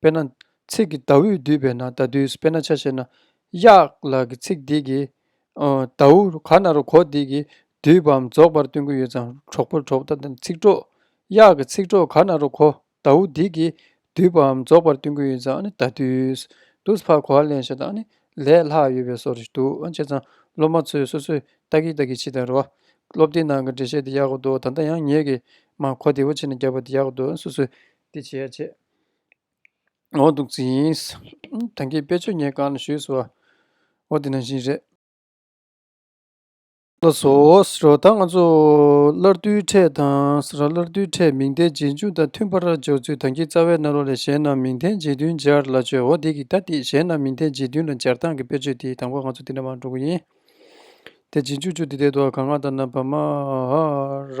དཔེར་ན། ཚིག་གི་ཟླ་འོད་བསྡུས་པས་ན་ཟླ་བསྡུས་སུ་དཔེར་ན་ཆ་ཤས་ན། གཡག་ལགས་ཀྱི་ཚིག་འདི་གིས། ཟླ་འོད་ག་ན་རུ་གོ་འདི་གིས་བསྡུས་པའམ་རྫོགས་པར་སྟོན་གྱི་ཡོད་ཙང་གྲོགས་པོ་གྲོགས་པོ་དང་ཚིག་གྲོགས། གཡག་གི་ཚིག་གྲོགས་ག་ན་རུ་གོ་ཟླ་འོད་འདི་གིས་བསྡུས་པའམ་རྫོགས་པར་སྟོན་གྱི་ཡོད་ཙང་ནི་ཟླ་བསྡུས། དུས་བར་གོ་བ་ལེན་ཞེས་དང་ནི་ལས་ལྷག་ཡོད་པའི་སོགས་རེ་ཞིག་འདུག་ཨང་བྱས་ཙང་སློབ་མ་ཚོས་སོ་སོས་ལྟ་གི་ལྟ་གི་ཕྱིས་དང་རེ་བ། སློབ་དེབ་ནང་གི་འགྲེལ་བཤད་འདི་ཡག་པོ་འདུག་ད་ལྟ་ཡང་ངེད་ཀྱིས་མ་གོ་བདེ་བོ་ཕྱིས་ནས་རྒྱབ་པ་འདི་ཡག་པོ་འདུག་སོ་སོས་དེ་བྱས་རྗེས་འོ་འདུག་ཚིག་ཡིན། དེང་གི་དཔེ་ཆོས་ཉན་གང་ཞུས་སོ། འོ་དེ་ནང་བཞིན་རེད། ལ་སོགས་རོ་ད་ང་ཚོ་སླར་བསྡུའི་ཕྲད་དང་ས་ར་སླར་བསྡུའི་ཕྲད་མིང་བརྡའི་རྗེས་འཇུག་དང་མཐུན་པར་སྦྱོར་ཚུལ་དང་གི་རྩ་བའི་སྣ་རོ་ལས་གཞན་རྣམས་མིང་བརྡའི་རྗེས་མཐུན་སྦྱར་ལ་བྱོས་འོ་དེ་གི་ད་དེ་གཞན་རྣམས་མིང་བརྡའི་རྗེས་མཐུན་ལ་སྦྱར་སྟངས་ཀྱི་དཔེ་ཆོས་དེའི་དང་པོ་ང་ཚོ་དེ་འདྲ་མང་དྲུག་ཡིན། དེ་རྗེས་འཇུག་ཆུ་དེ་དེ་དོ་ག་ང་ད་ན་བ་མ་ཧ་ར་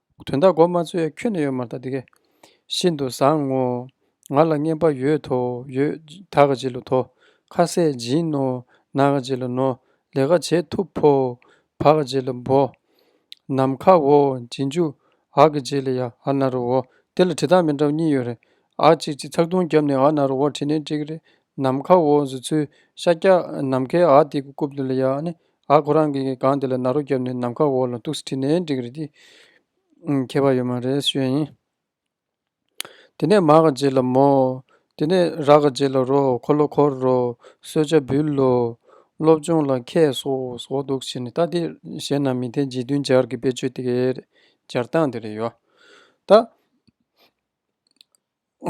དོན་དག་གོ་མ་ཚོད་ཡ་ཁྱོད་ནས་ཡོད་མ་ཐག་དེ་གས། ཤིན་ཏུ་བཟང་ངོ། ང་ལ་བརྙན་པ་ཡོད་དོ་ཡོད། ད་ག་ཇི་ལ་དོ། ཁ་ཟས་སྦྱིན་ནོ། ན་ག་ཇི་ལ་ནོ། ལས་ག་བྱེད་ཐུབ་བོ། བ་ག་ཇི་ལ་བོ། ནམ་མཁའ་འོ། སྦྱིན་རྒྱུ། ཨ་ག་ཇི་ལ་ཡ། ཨ་ན་རོ་འོ། དེ་ལ་བྲིས་སྟངས་མི་འདྲ་བ་གཉིས་ཡོད་རེད། ཨ་གཅིག་གཅིག་ཚགས་དུང་རྒྱབ་ནས་ཨ་ན་རོ་འོ་བྲིས་ནས་འགྲིག་གི་རེད། ནམ་མཁའ་འོ་བཟོ་ཚུལ། ཤཱཀྱ་ནམ་མཁའི་ཨ་དེ་གི་རྐུབ་དེ་ལ་ཡ་ཨ་ནི་ཨ་ཁོ་རང་གིས་སྒང་དེ་ལ་ནཱ་རོ་བརྒྱབ་ནས་ནམ་མཁའ་འོག་ལ་ཏུགས་སེ་ཁྲིད་ནས་འགྲིག་རེད་དེ། མཁས་པ་ཡོད་མ་རེད་ཤོད་ཡིན། དེ་ནས་མ་ག་རྗེ་ལ་མོ། དེ་ནས་ར་ག་རྗེ་ལ་རོ་འཁོར་ལོ་འཁོར་རོ། གསོལ་ཇ་འབུལ་ལོ། སློབ་སྦྱོང་ལ་མཁས་སོ་སོགས་འདུག་བྱས་ནས་ད་དེ་གཞན་རྣམས་མི་འཐད་རྗེས་མཐུན་སྦྱར་གྱི་དཔེ་ཆོས་དེ་གའི་རེད་སྦྱར་སྟངས་དེ་རེད་ཡོད། ད།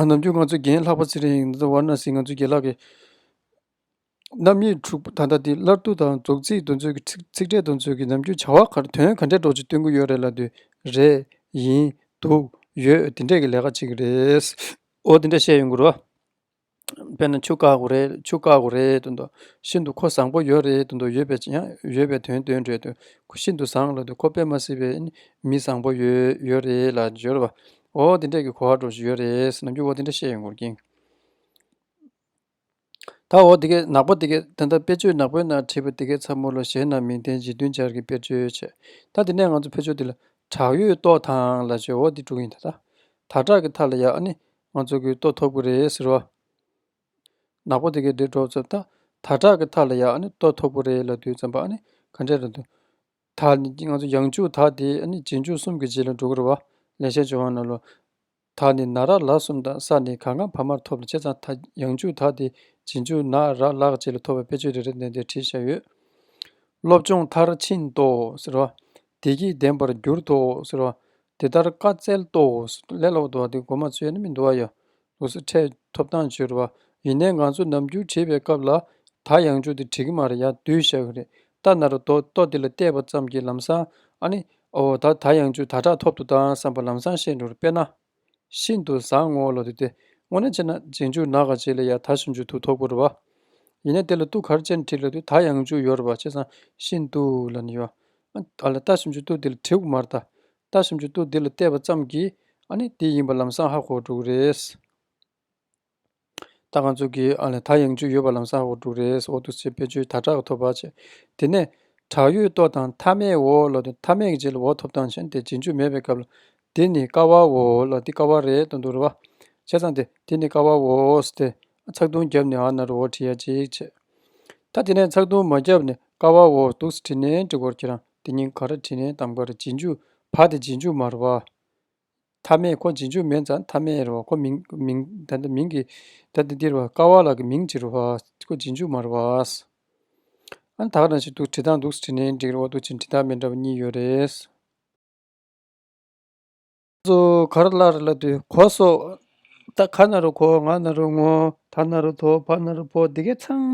ནམ་རྒྱུན་ང་ཚོའི་རྒན་ལྷག་པ་ཚེ་རིང་དབར་ན་ཟིག་ང་ཚོའི་རྒན་ལགས་ཀྱིས། རྣམ་དབྱེ་དྲུག་པོ་ད་ལྟ་འདི་སླར་བསྡུ་དང་རྫོགས་ཚིག་འདོན་ཚུལ་གྱི་ཚིག་འགྲེལ་འདོན་ཚུལ་གྱི་ནམ་རྒྱུན་བྱ་བ་གར་དོན་ག་འདྲའི་སྒྲོག་ཅིག་སྟོན་གི་ཡོད་རེད་ལ་འདུག་རེད། ཡིན། འདུག། ཡོད། དེ་འདྲས་ཀྱི་ལས་ཀ་ཅིག་རེད། འོ་དེ་འདྲས་བཤད་ཡོང་གི་རོ། དཔེར་ན་ཆུ་བཀག་གོ་རེད་ཆུ་བཀག་གོ་རེད་དུ་འདུག་ཤིན་ཏུ་ཁོ་བཟང་པོ་ཡོད་རེད་དུ་འདུག་ཡོད་པའི་ཡང་ཡོད་པའི་དོན་སྟོན་འདྲས་དུ་ཁོ་ཤིན་ཏུ་བཟང་ལ་དུ་ཁོ་དཔེ་མ་སྲིད་པའི་མི་བཟང་པོ་ཡོད་ཡོད་རེད་ལ་སྦྱོར་བ། འོ་དེ་འདྲས་ཀྱི་གོ་བ་སྒྲོག་ཅིག་ཡོད་རེད་ནམ་རྒྱུན་འོ་དེ་འདྲས་བཤད་ཡོང་གི་རྒྱུ་ཡིན། ད་འོ་དེ་གས་ནག་པོ་དེ་གས་དེ་ལྟར་དཔེར་བརྗོད་ནག་པོའི་ནང་བྲིས་པ་དེ་གས་ཚ་མོ་ལོ་གཞན་རྣམས་མིང་བསྟན་ཅིང་བདུན་སྦྱར་གྱི་དཔེར་བརྗོད་བྱས། ད་དེ་ནས་ང་ཚོ་ཕོ་ཆོས་འདི་ལ། བྲག་ཡོས་ཏོག་ཐང་ལ་བྱོའོ་འདི་དྲུག་ཡིན་ད། དར་དྲག་གི་མཐའ་ལ་ཡག་ཨ་ནི། ང་ཚོ་གུས་ཏོག་འཐོབ་གི་རེད་ཟེར་བ། ནག་པོ་དེ་གས་འདིར་འགྲོ་བརྩམས། དར་དྲག་གི་མཐའ་ལ་ཡག་ཨ་ནི་ཏོག་འཐོབ་གི་རེད་ལ་བདུད་བརྩམས་པ་ཨ་ནི། ག་འདྲས་རེད་འདུག། དར་ནི་ང་ཚོ་ཡང་འཇུག་དར་དེ་ཨ་ནི་རྗེས་འཇུག་གསུམ་གྱི་རྗེས་ལ་འགྲོ་གི་རེད་བ། ལས་བྱེད་འཇོག་དབང་ནོར་ལོ། དག་ནི་ན་རག་ལག་གསུམ་དང་ས་ནི་གང་གང་བར་མར་ཐོབ་ལ་ཕྱེ་ཚང་ཐ་ཡང་བཅུ་དག་སྟེ་བྱིན་ཆུ་ན་རག་ལག་བཅས་ལ་ཐོབ་པའི་དཔེ་ཆོས་རེ་རེ་འདོན་ཏེ་བྲིས་བཞག་ཡོད། སློབ་སྦྱོང་མཐར་ཕྱིན་ཏོ་ཟེར་བ། བདེ་སྐྱིད་ལྡན་པར་གྱུར་ཏོ་ཟེར་བ། དེ་ལྟར་བཀའ་སྩལ་ཏོ། ལས་ལོག་འདུ་བ་སྟེ་སྒོ་མ་ཆོད་ན་མི་འདུ་བ་ཡང། ལུགས་སྲོལ་ཕྲད་ཐོབ་ཐང་སྦྱོར་བ། ཡིན་ནའི་ང་ཚོ་ནམ་རྒྱུན་བྲིས་པའི་སྐབས་ལ། ཐ་ཡང་བཅུ་དེ་བྲིས་ཀྱི་མ་རེད་ཡ་བསྡུས་བཞག་གི་རེད། རྟ་ནར་ལྡོ་ལྟོ་འདི་ལ་བལྟས་པ་ཙམ་གྱིས་ལམ་སང་ཨ་ནི། ཨོ་ད་ད་ཡང་ཆུ་ད་དྲག་ཐོབ་ཏུ་བཏང་བསམ་པ་ལམ་སང་ཤེས་འགྲོར་དཔེར་ན། ཤིན་ཏུ་བཟང་ངོ་ལོ་འདི་དེ་སྔོ་ན་ཅན་ན་རྗེས་འཇུག་ན་ག་བྱེད་ལ་ཡ་ད་ཤིན་ཅུ་དུ་ཐོག་པོར་བ། ཡིན་ན་དེ་ལ་ཏུ་གར་ཅན་བྲིས་ལ་དུས་ད་ཡང་ཅུ་ཡོར་བ་བྱས་སང་ཤིན་ཏུ་ལ་ནི་ཡོ། ཨ་ལ་ད་ཤིན་ཅུ་ཏུ་འདི་ལ་དྲིའུག་མར་ད། ད་ཤིན་ཅུ་ཏུ་འདི་ལ་བལྟས་པ་ཙམ་གྱིས་ཨ་ནི་འདི་ཡིན་པ་ལམ་སང་ཧ་གོ་འགྲོ་གི་རེད། ད་གང་ཚུགས་ཀྱི་ཨ་ལས་ད་ཡང་བཅུ་ཡོད་པ་ལམ་སང་འོག་དྲུག་རེའི་འོག་ཏུ་སེ་བེད་ཆུའི་དར་དྲག་ཐོབ་བར་བྱེད། དེ་ནས་བྲག་ཡོས་ལྟོ་དང་མཐའ་མའི་འོག་ལ་དུ་མཐའ་མའི་རྗེས་ལ་འོག་ཐོབ་ཐང་ཆེན་དེ་རྗེས་འཇུག་མེད་པའི་སྐབས་ལ་དེ་ནི་ཀ་བ་འོ་ལ་དེ་ཀ་བ་རེ་དང་དུ་རུ་བ། བྱས་ཙང་དེ་དེ་ནི་ཀ་བ་འོ་ཨོས་ཏེ་ཚགས་བརྡུང་བརྒྱབ་ནས་ཨ་ན་རུ་འོ་བྲི་ཡ་གཅིག་བྱེད། ད་དེ་ནས་ཚགས་བརྡུང་མ་བརྒྱབ་ནས་ཀ་བ་འོ་དུག་སེ་བྲི་ནན་བྲི་འཁོར་ཁྱེད་རང་དེ་ཉིན་ག་ར་བྲི་ནན་དམ་ག་ར་རྗེས་འཇུག་བ་དེ་རྗེས་འཇུག་མ་རུ་བ། ཐ་མས་ཁོ་འབྱིན་འཇུག་མེད་ཙང་ཐ་མའི་རེད་བ་ཁོ་མིང་མིང་ད་འདི་མིང་གི་ད་འདི་འདི་རེད་བ་ཀ་བ་ལ་གི་མིང་ཅི་རེད་བ་ཁོ་འབྱིན་འཇུག་མ་རེད་བ། ཨ་ད་ག་ན་ཞིག་འདུག་བྲིས་ཐང་འདུག་བྲིས་ནས་འགྲིག་རེད་བ་འདུག་ཅིང་བྲིས་ཐང་མེད་འདྲ་བ་གཉིས་ཡོད་རེད། ཚོ་ག་རེ་གླག་རེ་གླག་དུས་གོ་སོགས་ད་ག་ན་རུ་གོ་ང་ན་རུ་ངོ་ད་ན་རུ་དོ་ཕ་ན་རུ་ཕོ་འདི་གས་ཚང་མ་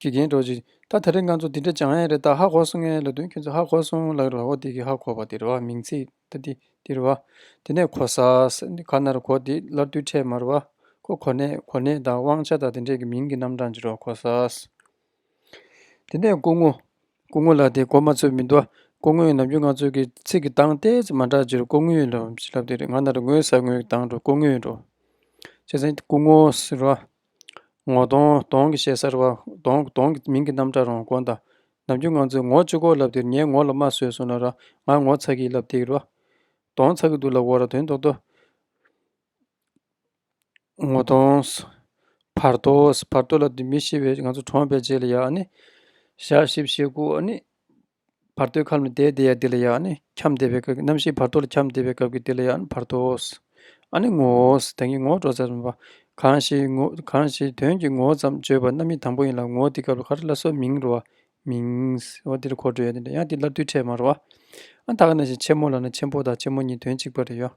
དགེ་རྒན་གྲོགས་ཅིག། ད་ད་རེས་ང་ཚོ་འདི་འདྲ་སྦྱང་ཡས་རེད་ད་ཧ་གོ་སོང་ངས་ལབ་དོན་ཁྱོད་ཚོ་ཧ་གོ་སོང་ལགས་རེད་བ་འོ་དེ་གི་ཧ་གོ་བ་དེ་རེད་བ་མིང་ཚིག་ད་དེ་དེ་རེད་བ། དེ་ནས་གོ་ས་ས་འདི་ག་ན་རེད་གོ་དེ་སླར་དུས་འཕྲད་མ་རེད་བ། ཁོ་གོ་ནས་གོ་ནས་ད་དབང་ཆ་དང་དེ་འདྲས་ཀྱི་མིང་གི་རྣམ་གྲངས་ཅི་རེད་བ་གོ་ས་ས། དེ་ནས་སྐུ་ངོ། སྐུ་ངོ་ལགས་དེ་གོ་མ་ཚོད་མི་འདུག་བ། སྐུ་ངོ་ཡིན་ནམ་རྒྱུ་ང་ཚོས་ཀྱི་ཚིག་གི་གདངས་ཏེ་ཙི་མ་འདྲ་ཅི་རེད་སྐུ་ངོ་ཡིན་ལབ་ཅི་ལབ་དེ་རེད་ང་ན་རེ་ངོས་ཟ་ངོས་ཀྱི་གདངས་འགྲོ་སྐུ་ངོས་འགྲོ། བྱས་ཙང་སྐུ་ངོ་ཟེར་བ། ངོ་གདོང་གདོང་གི་ཞལ་གསར་བ། གདོང་གདོང་གི་མིང་གི་རྣམ་གྲངས་རོང་དགོན་དང། ནམ་རྒྱུན་ང་ཚོས་ངོ་བཅུ་སྐོར་ལབ་འདིར་ངའི་ངོ་ལ་མ་བཟོས་སོང་ན་ར་ང་ངོ་ཚ་གིས་ལབ་འདིར་ར། གདོང་ཚ་གི་འདུག་ལབ་འོ་ར་དོན་རྡོག་རྡོ། ངོ་གདོང། བར་དོ་བར་དོ་ལབ་འདི་མི་ཤེས་པའི་ང་ཚོ་གྲོངས་པའི་རྗེས་ལ་ཡ་ཨ་ནི། ཞག་བཞི་བཞི་དགུ་ཨ་ནི། བར་དོའི་ཁམས་ལ་དེའི་དེ་ཡང་དེ་ལ་ཡང་ནི་ཁྱམས་བདེ་བའི་སྐབས་ཀྱི་རྣམ་ཤེས་བར་དོ་ལ་ཁྱམས་བདེ་བའི་སྐབས་ཀྱི་དེ་ལ་ཡང་ནི་བར་དོའོ། ཨ་ནི་ངོ་བོའོ། དོན་གྱི་ངོ་བོ་སྒྲོ་བཙལ་བ། གང་ཞིག་དོན་གྱི་ངོ་བོ་ཙམ་བརྗོད་པ་རྣམ་དབྱེ་དང་པོ་ཡིན་ལ་ངོ་བོ་དེ་སྐབས་ལ་ཁ་ཏྲ་ལ་སོགས་མིང་རུང་བ། མིང། བ་དེ་ལ་གོ་བགྲོད་ཡང་དེ་ལ་ཡང་དེ་སླར་དུས་ཕྲད་མ་རུང་བ། དག་ན་བཞིན་ཆེན་མོ་ལ་ན་ཆེན་པོ་དང་ཆེན་མོ་གཉིས་དོན་གཅིག་པ་རེད་ཡོད།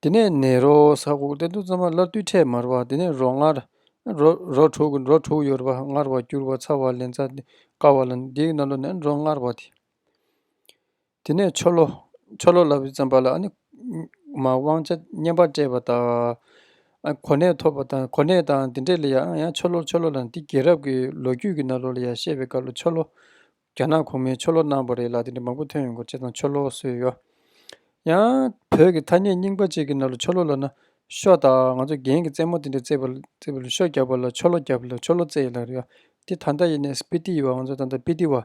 དེ་ནས་ནི་རོ་ས་ཁུག་རྟའི་མདུང་རྩེ་མ་སླར་བཏུད་འཕྲལ་མར་བ་དེ་ནས་རོ་མངར། རོ་དྲུག་རོ་དྲུག་ཡོར་བ་མངར་བ་སྐྱུར་བ་ཚ་བ་ལན་ཚྭ་དཀར་བ་ལ་འདིའི་སྣ་ལོ་ནི་རོ་མངར་བ་སྟེ། དེ་ནས་ཆོ་ལོ། ཆོ་ལོ་ལ་བའི་བཙན་པ་ལ་ནི། མ་དབང་ཆ་བསྙེན་པར་སྤྲད་པ་དང། གོ་གནས་ཐོབ་པ་དང་གོ་གནས་དང་དེ་འདྲ་ལ་ཡང་ཡང་ཆོ་ལོ་ཆོ་ལོ་ལ་ནི་འདི་རྒྱལ་རབས་ཀྱི་ལོ་རྒྱུས་ཀྱི་སྣ་ལོ་ལ་ཡང་བཤད་པའི་སྐབས་ལ་ཆོ་ལོ། རྒྱ་ནག་གོང་མའི་ཆོ་ལོ་གནང་བ་རེད་ལ་དེ་འདྲ་མང་པོ་ཐོན་ཡོང་སྐོར་བྱས་ཙང་ཆོ་ལོ་གསོལ་ཡོད། ཡང། བོད་ཀྱི་ཐ་སྙད་རྙིང་པ་ཅིག་གི་ནང་ལ་ཆོ་ལོ་ལ་ན་ཤོ་དང་ང་ཚོ་རྒྱན་གྱི་རྩེད་མོ་དེ་འདྲ་རྩེད་པ་རྩེད་པ་ལ་ཤོ་རྒྱབ་པ་ལ་ཆོ་ལོ་རྒྱབ་ལ་ཆོ་ལོ་རྩེད་ལ་རེད། དེ་ད་ལྟ་ཡིན་ནའི་སི་པི་ཏི་ཡི་བ་ང་ཚོ་ད་ལྟ་སྤི་ཏི་བ།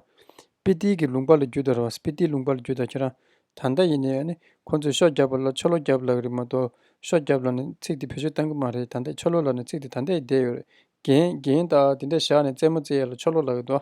སྤི་ཏི་གི་ལུང་པ་ལ་རྒྱུད་ད་ར་བ་སི་པི་ཏི་ལུང་པ་ལ་རྒྱུད་ད་ཁྱེད་རང་ད་ལྟ་ཡིན་ནའི་ནི་ཁོང་ཚོས་ཤོ་རྒྱབ་པ་ལ་ཆོ་ལོ་རྒྱབ་ལ་རེད་མ་གཏོགས་ཤོ་རྒྱབ་ལ་ནི་ཚིག་དེ་བེད་སྤྱོད་གཏང་གི་མ་རེད་ད་ལྟ་ཆོ་ལོ་ལ་ནི་ཚིག་དེ་ད་ལྟའི་བསྡད་ཡོད་རེད་རྒྱན་རྒྱན་དང་དེ་འདྲ་བཞག་ནས་རྩེད་མོ་རྩེད་ཡ་ལ་ཆོ་ལོ་ལ་ཡོད་དོ།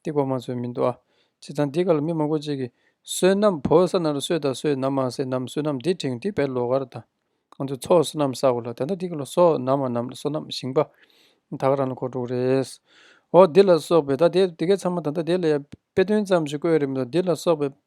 སྟེགས་པ་མ་ཚོས་མི་འདུག་ཨ། བྱས་ཙང་འདི་ག་ལ་མི་མང་པོ་གཅིག་གིས། བསོད་ནམས་བོ་ས་ན་རུ་བསོད་དང་བསོད་ནམས་མ་སེ་ནམས་བསོད་ནམས་འདི་དྲིང་འདི་བས་ལོ་གར་དང། ང་ཚོས་ཚོགས་བསོད་ནམས་བསགས་པ་ལ་དེ་འདྲ་འདི་ག་ལ་བསོད་ནམས་མ་ནམས་ལ་བསོད་ནམས་ཞིང་པ། ད་ག་རང་ལ་གོ་དྲུག་རེད། ཨོ་འདི་ལ་སོགས་པའི་ད་ལྟའི་འདི་གའི་ཚང་མ་ད་ལྟ་དེ་ལ་ཡང་དཔེ་དོན་ཙམ་ཞིག་བཀོད་ཡོད་རེད་མི་འདུག་འདི་ལ་སོགས་པའི་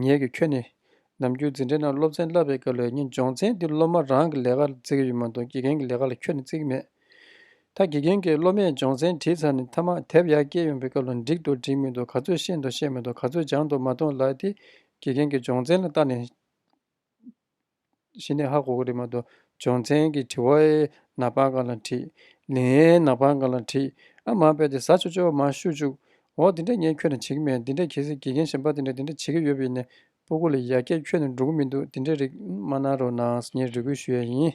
ངེད་ཀྱིས་ཁྱོད་ནི་ནམ་རྒྱུན་འཛིན་གྲྭའི་ནང་སློབ་ཚན་བསླབ་པའི་སྐབས་ལས་ཉིན་སྦྱོང་ཚན་འདིར་སློབ་མ་རང་གི་ལས་ཀ་བརྩི་གི་ཡོད་མ་མཐོང་དགེ་རྒན་གྱི་ལས་ཀ་ལ་ཁྱོད་ནི་བརྩི་གི་མེད། ད་དགེ་རྒན་གྱིས་སློབ་མས་སྦྱོང་ཚན་བྲིས་ཚར་ནས་ཐ་མག་དེབ་ཡར་བཀྱེད་ཡོང་པའི་སྐབས་ལ་འགྲིག་འདུག་འགྲིག་མི་འདུག་ག་ཚོད་ཤེས་འདུག་ཤེས་མི་འདུག་ག་ཚོད་སྦྱངས་འདུག་མ་མཐོང་ལགས་ཏེ་དགེ་རྒན་གྱིས་སྦྱོང་ཚན་ལ་བལྟ་ནས། ཤི་ནས་ཧ་གོ་གི་རེད་མ་གཏོགས་སྦྱོང་ཚན་གྱི་དྲི་བ་ཨེ་ན་པང་ག་ལ་བྲིས། ལིན་ཨེ་ན་པང་ག་ལ་བྲིས། ཨ་མ་དཔེ་དེ་ཟ་ཆོ་ཆོ་མ་ཤུ་བཅུག། འོ་དེ་འདྲ་ངས་ཁྱོད་ལ་བྱེད་ཀྱི་མེད་འདི་འདྲ་གལ་སྲིད་དགེ་རྒན་གཞན་པ་དེ་འདྲ་དེ་འདྲ་བྱེད་ཀྱི་ཡོད་པ་ཡིན་ནས་སྤོ་གོ་ལ་ཡ་སྐད་ཁྱོད་ནས་འགྲོ་གི་མི་འདུག་དེ་འདྲའི་རིགས་མ་གནང་རོགས་གནང་ངས་རེ་སྐུལ་ཞུ་ཡ་ཡིན།